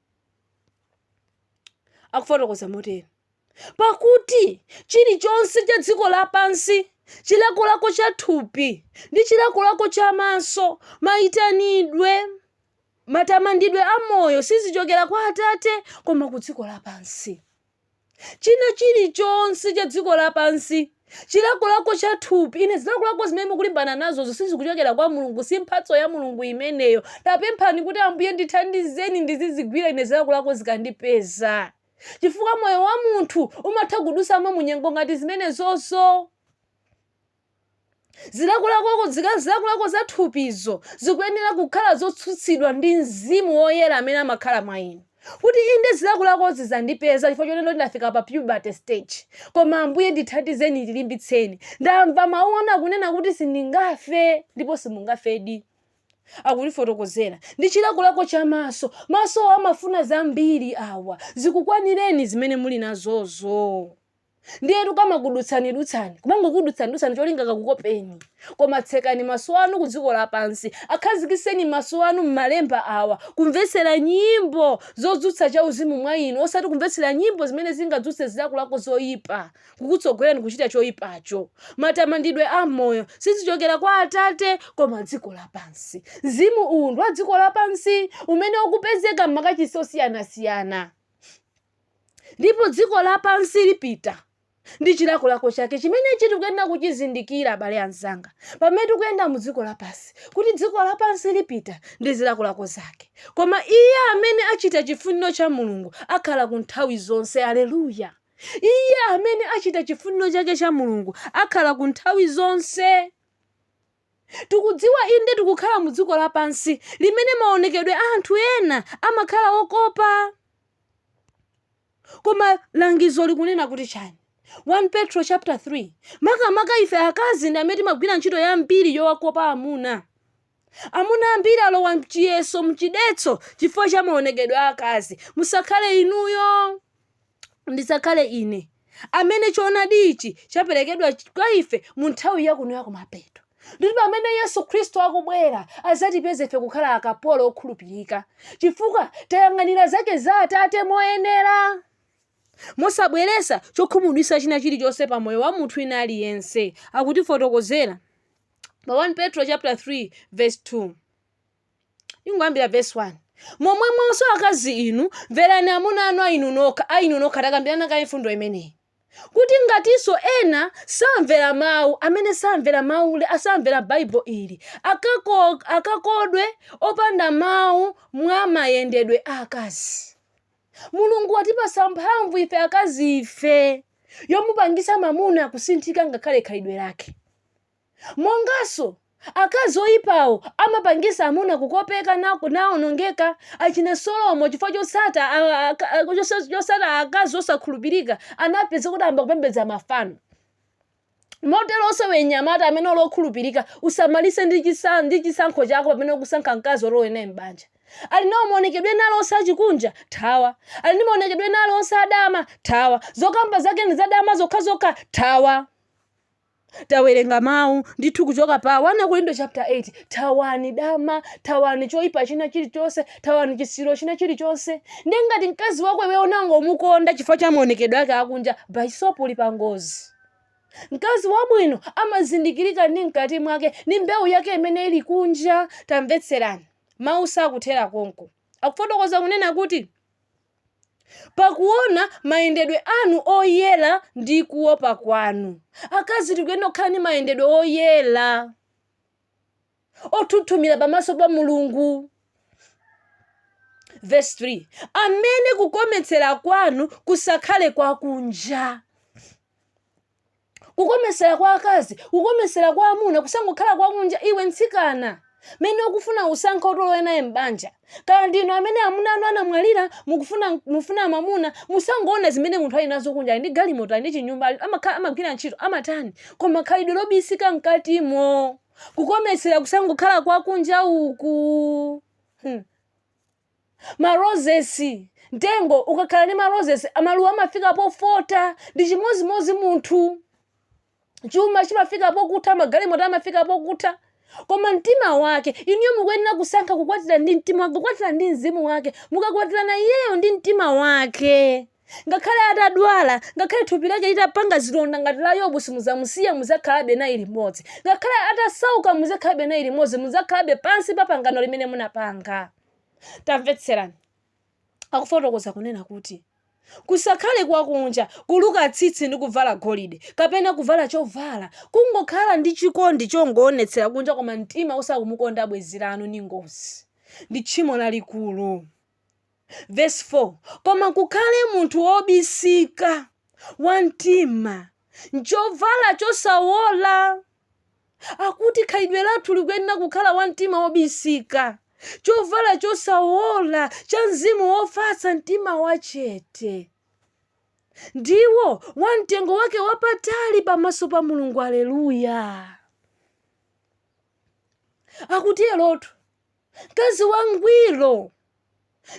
akufotokoza moteni pakuti chilichonse cha dziko lapansi chilakolako cha thupi ndi chilakolako cha maso mayitanidwe matamandidwe a moyo sizichokera kwa atate koma ku dziko lapansi China chilichonse cha dziko lapansi, chilakolako cha thupi, ine, zilakolako zimene mukulimbana nazozo sizikuchokera kwa Mulungu, si mphatso ya Mulungu imeneyo. Tapemphani kuti, Ambuye, ndithandizeni ndizizigwira ine zilakolako zikandipeza. Chifukwa moyo wa munthu umatha kudusamo mu nyengo ngati zimenezozo. Zilakolako zilakolako za thupizo zikuyenera kukhala zotsutsidwa ndi Mzimu Woyera amene amakhala mwa inu. Kuti inde zilakolakozi zandipeza chifukwa chonena ndafika pa puberty stage. Koma Ambuye ndithandizeni ndilimbitseni. Ndamva mau anu akunena kuti sindingafe ndipo simungafedi. Akutifotokozera. Ndi chilakolako cha maso. Masowa amafuna zambiri awa. Zikukwanireni zimene muli nazozo. ndiyetu kamakudutsanidutsani kumangokudutsanidutsani cholinga kakukopeni koma tsekani maso anu ku dziko lapansi akhazikiseni maso anu m'malemba awa kumvetsera nyimbo zodzutsa cha uzimu mwa inu osati kumvetsera nyimbo zimene zingadzutse zilakolako zoyipa kukutsogolerani kuchita choyipacho matamandidwe a moyo sizichokera kwa atate koma dziko lapansi mzimu uwu ndi wa dziko lapansi umene ukupezeka m'makachisi osiyanasiyana ndipo dziko lapansi lipita ndi chilakolako chake chimenechi tikuyenera kuchizindikira abale anzanga pamene tikuyenda mu dziko lapansi kuti dziko lapansi lipita ndi zilakolako zake koma iye amene achita chifuniro cha mulungu akhala ku nthawi zonse aleluya iye amene achita chifuniro chake cha mulungu akhala ku nthawi zonse Tikudziwa, inde, tikukhala mu dziko lapansi limene maonekedwe a anthu ena amakhala okopa. Koma langizo likunena kuti chani? 1 Petro chapter 3, makamaka ife akazi ndi amene timagwira ntchito yambiri yowakopa amuna. Amuna ambiri alowa mchiyeso, mchidetso chifukwa cha maonekedwe a akazi. Musakhale inuyo. ndisakhale ine amene choonadi ichi chaperekedwa kwa ife mu nthawi yakuno yakumapeto ndipo pamene yesu khristu akubwera adzatipeze ife kukhala akapolo okhulupirika chifukwa tayang'anira zake za atate moyenera mosabweresa chokhumudwisa china chilichonse pa moyo wa munthu ina aliyense akutifotokozera pa 1 petro chapter 3 verse 2 ingoyambira verse 1 momwemonso akazi inu mverani amuna anu a inu nokha a inu nokha takambirana kaye mfundo imeneyi kuti ngatinso ena samvera mawu amene samvera mawu le- asamvera baibulo ili akakodwe opanda mawu mwa mayendedwe a akazi mulungu watipasa mphamvu ife akazi ife yomupangisa mamuna kusinthika ngakhale khalidwe lake Monganso akazi oyipawo amapangisa amuna kukopeka naonongeka achina solomo chifukwa chotsata akazi osakhulupilika anapezeka kuti ayamba kupembedza mafano moteloso iwe nyamata amene uli okhulupilika usamalise ndi chisankho chako pamene ukusankha mkazi oti ulowe naye m'banja ali nawo maonekedwe ena ali onse achikunja thawa ali ndi maonekedwe ena ali onse adama thawa zokamba zake ndi zadama zokhazokha thawa Tawerenga mawu ndithu kuchoka pa 1 Akorinto chapter 8. Thawani dama, thawani choipa china chilichonse, thawani chisiriro china chilichonse. Ndiye ngati mkazi wako iwe unangomukonda chifukwa cha maonekedwe ake akunja, bas opo uli pa ngozi. Mkazi wabwino amazindikirika ndi mkati mwake, ndi mbewu yake imene ili kunja. Tamvetserani, mawu sakuthera konko. Akufotokoza kunena kuti. pakuona mayendedwe anu oyera ndi kuopa kwanu. Akazi tikuyenera kukhala ndi mayendedwe oyera onthunthumira pamaso pa Mulungu. Verse 3 amene kukometsera kwanu kusakhale kwakunja kukomesera kwa akazi kukomesera kwa amuna kusangokhala kwa kunja iwe mtsikana mene ukufuna usankhe oti ulowe naye m'banja kaya ndinu amene amuna anu anamwalira mukufuna mufuna mamuna musangoona zimene munthu ali nazo kunja ali ndi galimoto ali ndi chinyumba ali- amakhala amagwira ntchito amatani koma khalidwe lobisika mkatimo kukomesera kusangokhala kwa kunja uku hmm. Ma roses, Mtengo ukakhala ndi ma roses a maluwa amafika pofota. Ndi chimodzimodzi munthu. Chuma chimafika pokutha, magalimoto amafika pokutha. Koma mtima wake, inuyo mukuyenera kusankha kukwatira ndi mtima wake, kukwatira ndi mzimu wake. Mukakwatirana iyeyo ndi mtima wake. Ngakhale atadwala, ngakhale thupi lake litapanga zilonda ngati la Yobu simudzamusiya mudzakhalabe naye limodzi. Ngakhale atasauka mudzakhalabe naye limodzi mudzakhalabe pansi pa pangano limene munapanga. Tamvetserani. Akufotokoza kunena kuti kusakhale kwakunja, kuluka tsitsi ndi kuvala golide, kapena kuvala chovala, kungokhala ndi chikondi chongoonetsera kunja koma mtima usakumukonda bwenzi lanu ni ngozi. Ndi tchimo lalikulu. Vesi 4, Koma kukhale munthu wobisika wa mtima m'chovala chosawola. Akuti khalidwe lathu likuyenera kukhala wa mtima wobisika, chovala chosawola cha mzimu wofatsa, mtima wachete, ndiwo wa mtengo wake wapatali pamaso pa Mulungu. Aleluya! Akuti elotu. Mkazi wangwiro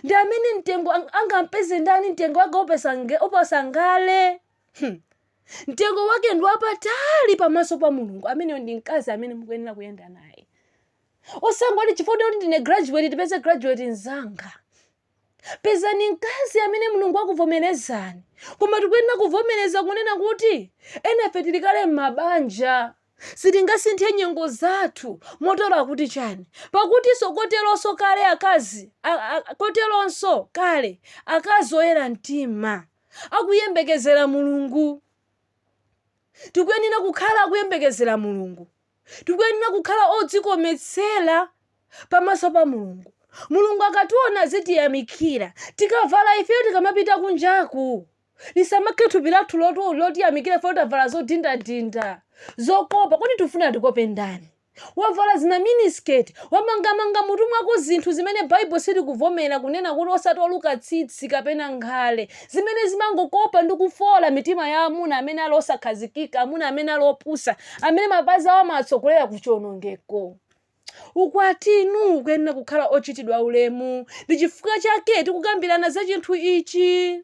ndi amene mtengo ang- angampeze ndani mtengo wake upesa nge- uposa ngale Hmm. mtengo wake ndi wapatali pamaso pa mulungu ameneyo ndi mkazi amene mukuyenera kuyenda naye osangoti chifukwa kuti ndine graduate tipeze graduate mzanga pezani mkazi amene mulungu akuvomerezani koma tikuyenera kuvomereza kunena kuti enafe tili kale m'mabanja sitingasinthe nyengo zathu motero akuti chani pakutinso koteronso kale akazi a- a- koteronso kale akazi oyera mtima akuyembekezera mulungu tikuyenera kukhala akuyembekezera mulungu Tikuyenera kukhala odzikometsera pamaso pa Mulungu. Mulungu akationa azitiyamikira. Tikavala ifeyo tikamapita kunjaku, lisamakhe thupi lathu lotu- lotiyamikira ifeyo tavala zodinda-dinda, zokopa. Kodi tifuna atikope ndani? Wavala zina miniskirt, wamangamanga mutu mwako zinthu zimene Bible silikuvomera kunena kuti osati oluka tsitsi kapena nkhale. zimene zimangokopa ndi kufoola mitima ya amuna amene ali osakhazikika, amuna amene ali opusa, amene mapazi awo amawatsogolera ku chiwonongeko. Ukwatitu ukuyenera kukhala ochitidwa ulemu. Ndi chifukwa chake tikukambirana za chinthu ichi.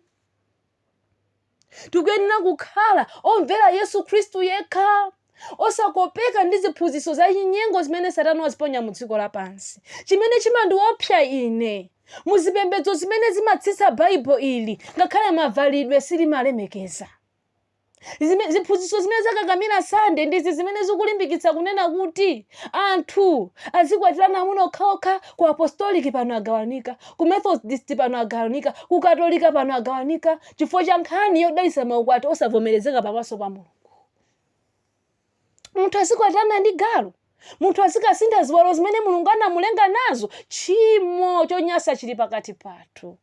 Tikuyenera kukhala omvera Yesu Khristu yekha. osakopeka ndi ziphunzitso zachinyengo zimene satana waziponya mu dziko lapansi chimene chimandiopsa ine mu zipembedzo zimene zimatsitsa Bible ili ngakhale mavalidwe sizimalemekeza Zime- ziphunzitso zimene zakakamira sande ndizi zimene zikulimbikitsa kunena kuti anthu azikwatirana amuna okhaokha ku apostolic pano agawanika ku methodist pano agawanika ku katolika pano agawanika chifukwa cha nkhani yodalisa maukwati osavomerezeka pamaso pa mulungu munthu azikwatirana ndi galu munthu azikasintha ziwalo zimene mulungu anamulenga nazo tchimo chonyasa chili pakati pathu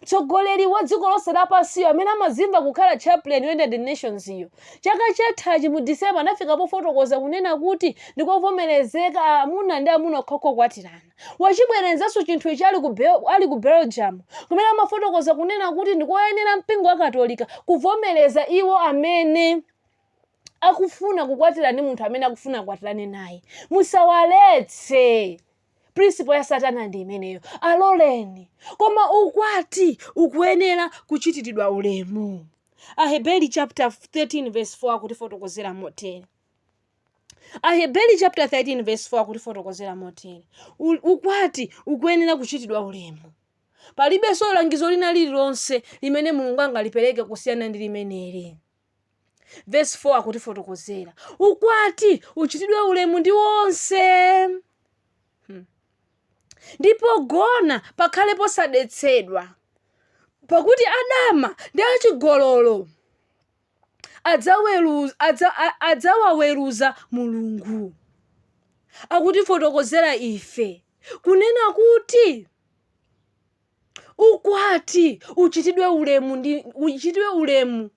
mtsogoleri wa dziko lonse lapansiyo amene amazimva kukhala chaplain united nations iyo chaka chathachi mu december anafika pofotokoza kunena kuti ndikovomerezeka amuna ndi amuna okhaokha kukwatirana wachibwerenzanso chinthu ichi ali ku belgium kumene amafotokoza kunena kuti ndikoyenera mpingo wa katolika kuvomereza iwo amene akufuna kukwatira ndi munthu amene akufuna kukwatirana naye musawaletse prinsipo ya satana ndi imeneyo aloleni koma ukwati ukuyenera kuchitidwa ulemu aheberi chapter 13 verse 4 akutifotokozera motere aheberi chapter 13 verse 4 akutifotokozera motere ukwati ukuyenera kuchitidwa ulemu palibenso langizo lina lililonse limene mulungu angalipereke kusiyana ndi limeneli vesi 4 akutifotokozera ukwati uchitidwe ulemu ndi onse ndi pogona pakhale posadetsedwa pakuti adama ndi achigololo adzaweru- adzawaweruza mulungu akutifotokozera ife kunena kuti ukwati uchitidwe ulemu ndi uchitidwe ulemu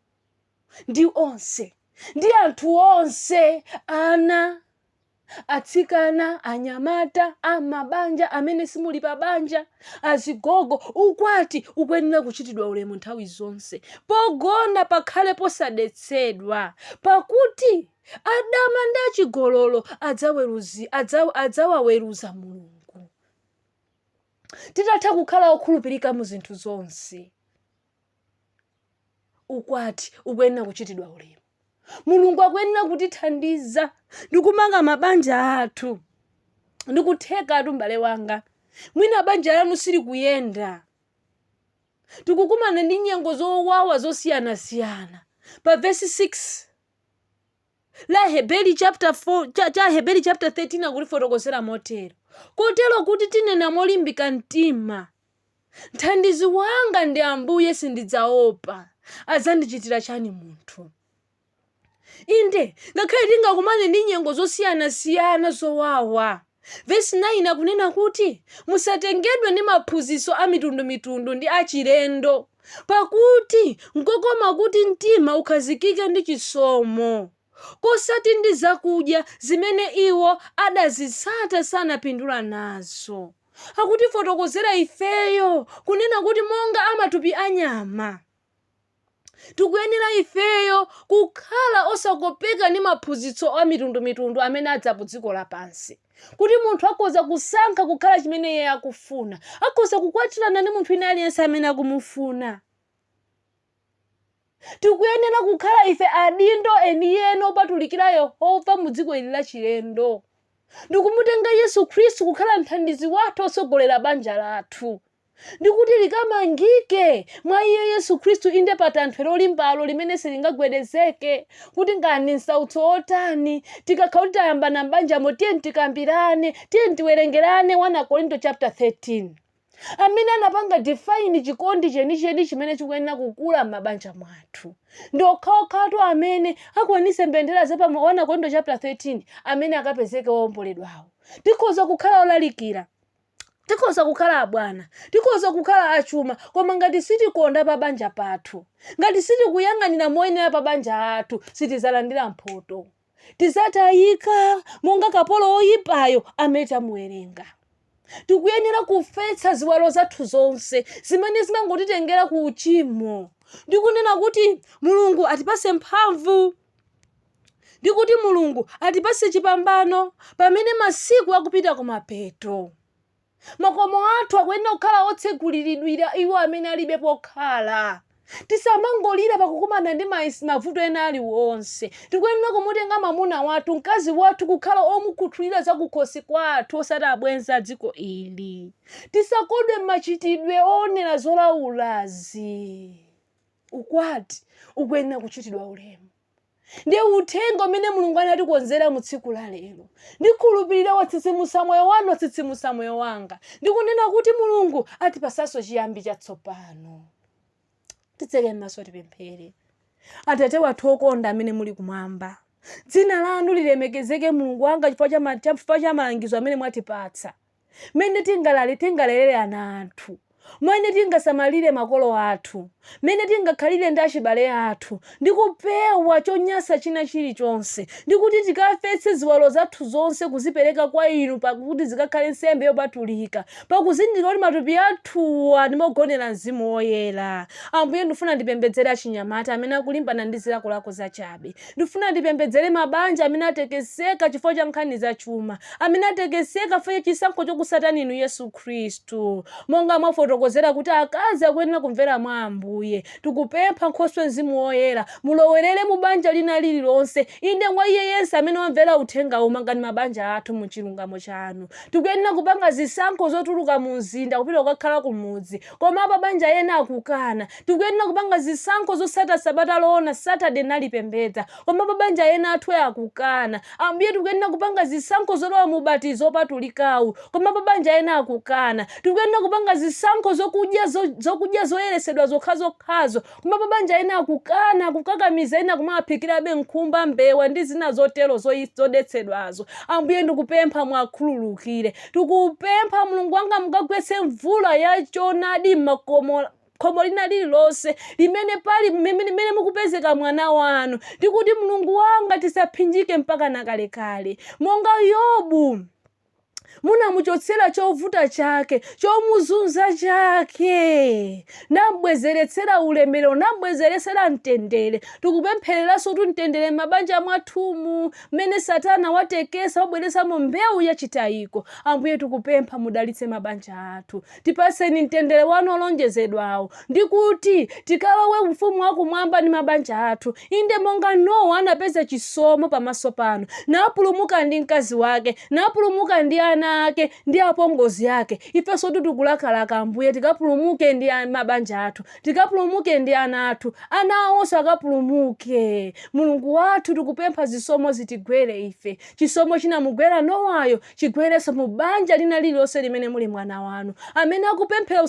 ndi onse ndi anthu onse ana atsikana anyamata amabanja amene simuli pa banja azigogo ukwati ukuyenera kuchitidwa ulemu nthawi zonse pogona pakhale posadetsedwa pakuti adama ndi achigololo adzaweruza adzawaweruza mulungu titatha kukhala okhulupirika mu zinthu zonse ukwati ukuyenera kuchitidwa ulemu mulungu akuyenera kutithandiza ndi kumanga mabanja athu ndikuthekatu m'bale wanga mwina banja lanu silikuyenda tikukumana ndi nyengo zowawa zosiyanasiyana pa vesi 6 la Heberi chapter 4 cha Heberi chapter 13 akutifotokozera motero kotero kuti tinena molimbika mtima mthandizi wanga ndi ambuye sindidzaopa adzandichitira chani munthu inde ngakhale tingakumane ndi nyengo zosiyanasiyana zowawa Vesi 9 akunena kuti, Musatengedwe ndi maphunzitso a mitundumitundu ndi achilendo, pakuti nkokoma kuti mtima ukhazikike ndi chisomo, kosati ndi zakudya, zimene iwo adazitsata sanapindula nazo. Akutifotokozera ifeyo kunena kuti monga a matupi anyama. Tikuyenera ifeyo kukhala osakopeka ndi maphunzitso a mitundu mitundu amene adza ku dziko lapansi. Kuti munthu akhoza kusankha kukhala chimene iye akufuna. Akhoza kukwatirana ndi munthu wina aliyense amene akumufuna. Tikuyenera kukhala ife adindo enieni opatulikira Yehova mu dziko ili la chilendo. Ndikumutenga Yesu Khristu kukhala mthandizi wathu otsogolera banja lathu. ndi kuti likamangike mwa iye Yesu Khristu, inde pa tanthwe lolimbalo limene silingagwedezeke, kuti ngati ndi msautso wotani, tikakhala kuti tayambana m'banjamo, tiye tikambirane, tiye tiwerengerane 1 Akorinto chapter 13 amene anapanga define chikondi chenicheni chimene chikuyenera kukula m'mabanja mwathu ndi okhaokhatu amene akwanise mbendera za pa 1 Akorinto chapter 13 amene akapezeke owomboledwawo tikhoza kukhala olalikira tikhoza kukhala abwana tikhoza kukhala achuma koma ngati sitikonda pa banja pathu ngati sitikuyang'anira moyenera mabanja athu sitizalandira mphoto tizatayika monga kapolo woyipayo amene tamuwerenga tikuyenera kufetsa ziwalo zathu zonse zimene zimangotitengera ku uchimo ndikunena kuti mulungu atipase mphamvu ndi kuti mulungu atipatse chipambano pamene masiku akupita kumapeto makomo athu akuyenera kukhala otseguliridwira iwo amene alibe pokhala tisamangolira pakukumana ndi maesi- mavuto ena aliwonse tikuyenera kumutenga mwamuna wathu mkazi wathu kukhala omukhuthulira zakukhosi kwathu osati abwenzi a dziko ili tisakodwe m'machitidwe oonera zolaulazi ukwati ukuyenera kuchitidwa ulemu ndiye uthenga umene mulungu anatikonzera mu tsiku la lero ndikhulupirira watsitsimusa moyo wanu watsitsimusa moyo wanga ndikunena kuti mulungu atipasanso chiyambi chatsopano titseke m'maso tipemphere atate wathu okonda amene muli kumwamba dzina lanu lilemekezeke mulungu wanga chifukwa cha ma- chifukwa cha malangizo amene mwatipatsa mmene tingalale tingalerere ana athu, mmene tingasamalire makolo athu, mmene tingakhalire ndi achibale athu, ndi kupewa chonyasa china chilichonse, ndi kuti tikafetse ziwalo zathu zonse kuzipereka kwa inu pa kuti zikakhale nsembe yopatulika, pakuzindikira kuti matupi athuwa ndi mogonera Mzimu Woyera. Ambuye, ndifuna ndipembedzere achinyamata amene akulimbana ndi zilakolako zachabe. Ndifuna ndipembedzere mabanja amene atekeseka chifukwa cha nkhani za chuma, amene atekeseka chifukwa cha chisankho chokusatani inu Yesu Khristu. Monga mwafotokozera kuti akazi akuyenera kumvera mwa Ambuye, tikupempha Nkhoswe Mzimu Woyera, mulowerere mu banja lina lililonse, inde mwa iye yense amene wamvera uthenga uwu mangani mabanja athu mu chilungamo chanu. Tikuyenera kupanga zisankho zotuluka mu mzinda kupita kukakhala kumudzi. Koma apabanja ena akukana. Tikuyenera kupanga zisankho zotsata sabata loona Saturday nalipembedza. Koma apabanja ena athu akukana. Ambuye tikuyenera kupanga zisankho zolowa mu ubatizo opatulikawu. Koma apabanja ena akukana. Tikuyenera kupanga zisankho zokudya zokudya zoyeresedwa zokhazokhazo. Koma apabanja ena akukana, kukakamiza ena kumawaphikirabe nkhumba, mbewa ndi zina zotero zodetsedwazo. Ambuye ndikupempha muwakhululukire. Tikupempha Mulungu wanga mukagwetse mvula ya choonadi m'makomo khomo lina lililonse limene pali limene mukupezeka mwana wanu ndikuti mulungu wanga tisaphinjike mpaka nakalekale monga yobu munamuchotsera chovuta chake chomuzunza chake nambwezeretsera ulemerero nambwezeretsera mtendere tikupemphereranso kuti mtendere m'mabanja mwathumu mmene satana watekesa wabweretsamo mbewu yachitayiko ambuye tikupempha mudalitse mabanja athu Tipatseni mtendere wanu olonjezedwawo, ndi kuti tikalowe Ufumu wa Kumwamba ndi mabanja athu, inde monga Nowa anapeza chisomo pamaso panu, napulumuka ndi mkazi wake, napulumuka ndi ana ake ndi apongozi ake. Ifensotu tikulakalaka, Ambuye, tikapulumuke ndi mabanja athu, tikapulumuke ndi ana athu, ana awonso akapulumuke. Mulungu wathu, tikupempha zisomo zitigwere ife. Chisomo chinamugwera Nowayo, chigwerenso mu banja lina lililonse limene muli mwana wanu, amene akupemphera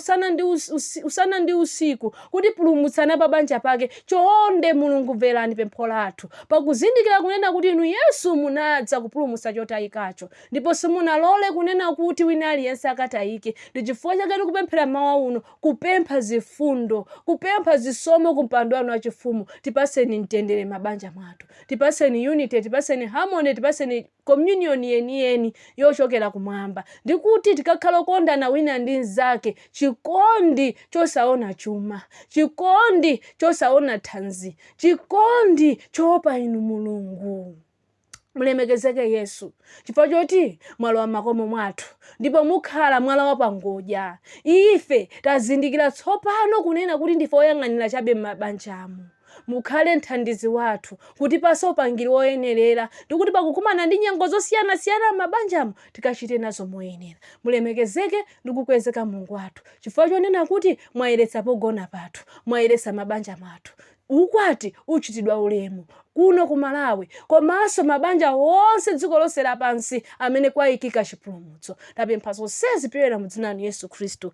usana ndi usiku kuti pulumutsani apabanja pake. Chonde, Mulungu, mverani pempho lathu, pakuzindikira kunena kuti Inu, Yesu, munadza kupulumutsa chotayikacho, ndipo simunalole kunena kuti wina aliyense akatayike. Ndi chifukwa chake tikupemphera mmawa uno, kupempha zifundo, kupempha zisomo ku mpando Wanu wachifumu. Tipatseni mtendere mmabanja mwathu. Tipatseni unity, tipatseni harmony, tipatseni communion yeniyeni yochokera kumwamba. Ndikuti tikakhala okondana wina ndi mnzake, chikondi chosaona chuma, chikondi chosaona thanzi, chikondi choopa inu Mulungu. Mulemekezeke Yesu chifukwa choti mwalowa m'makomo mwathu ndipo mukhala mwala wapangodya. Ife tazindikira tsopano kunena kuti ndife oyang'anira chabe m'mabanjamu. Mukhale mthandizi wathu, kutipatsa upangiri woyenerera, ndi kuti pakukumana ndi nyengo zosiyanasiyana m'mabanjamo, tikachite nazo moyenera. Mulemekezeke ndi kukwezeka Mulungu wathu, chifukwa chonena kuti mwayeretsa pogona pathu, mwayeretsa mabanja mathu. Ukwati uchitidwa ulemu kuno ku Malawi komanso mabanja onse dziko lonse lapansi amene kwayikika chipulumutso. Tapempha zonsezi pyolera mu dzina lanu Yesu Khristu.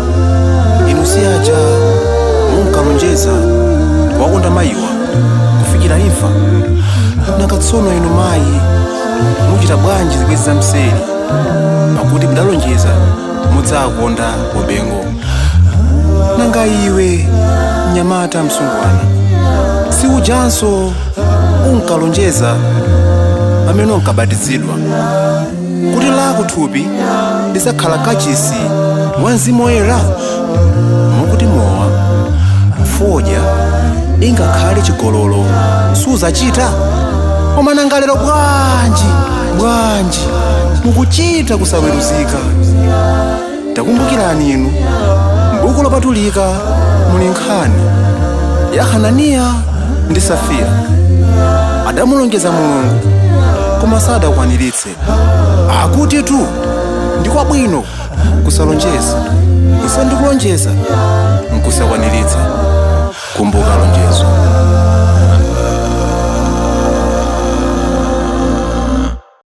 inu si aja munkalonjeza kuwakonda mayiwa kufikira imfa nanga tsono inu mayi muchita bwanji zibwenzi za mseri pakuti mudalonjeza mudzakonda ubwenzi nanga iwe mnyamata msungwana si ujanso unkalonjeza pamene unkabatizidwa kuti lako thupi lidzakhala kachisi wa mzimu woyera ukuti mowa fodya ingakhale chigololo sudzachita koma nanga lero bwanji bwanji mukuchita kusaweruzika takumbukirani inu m'buku lopatulika muli nkhani ya hananiya ndi safira adamulonjeza mulungu koma sadakwaniritse akutitu ndi kwabwino kusalonjeza kusiyana ndi kulonjeza nkusakwaniritsa kumbuka lonjezo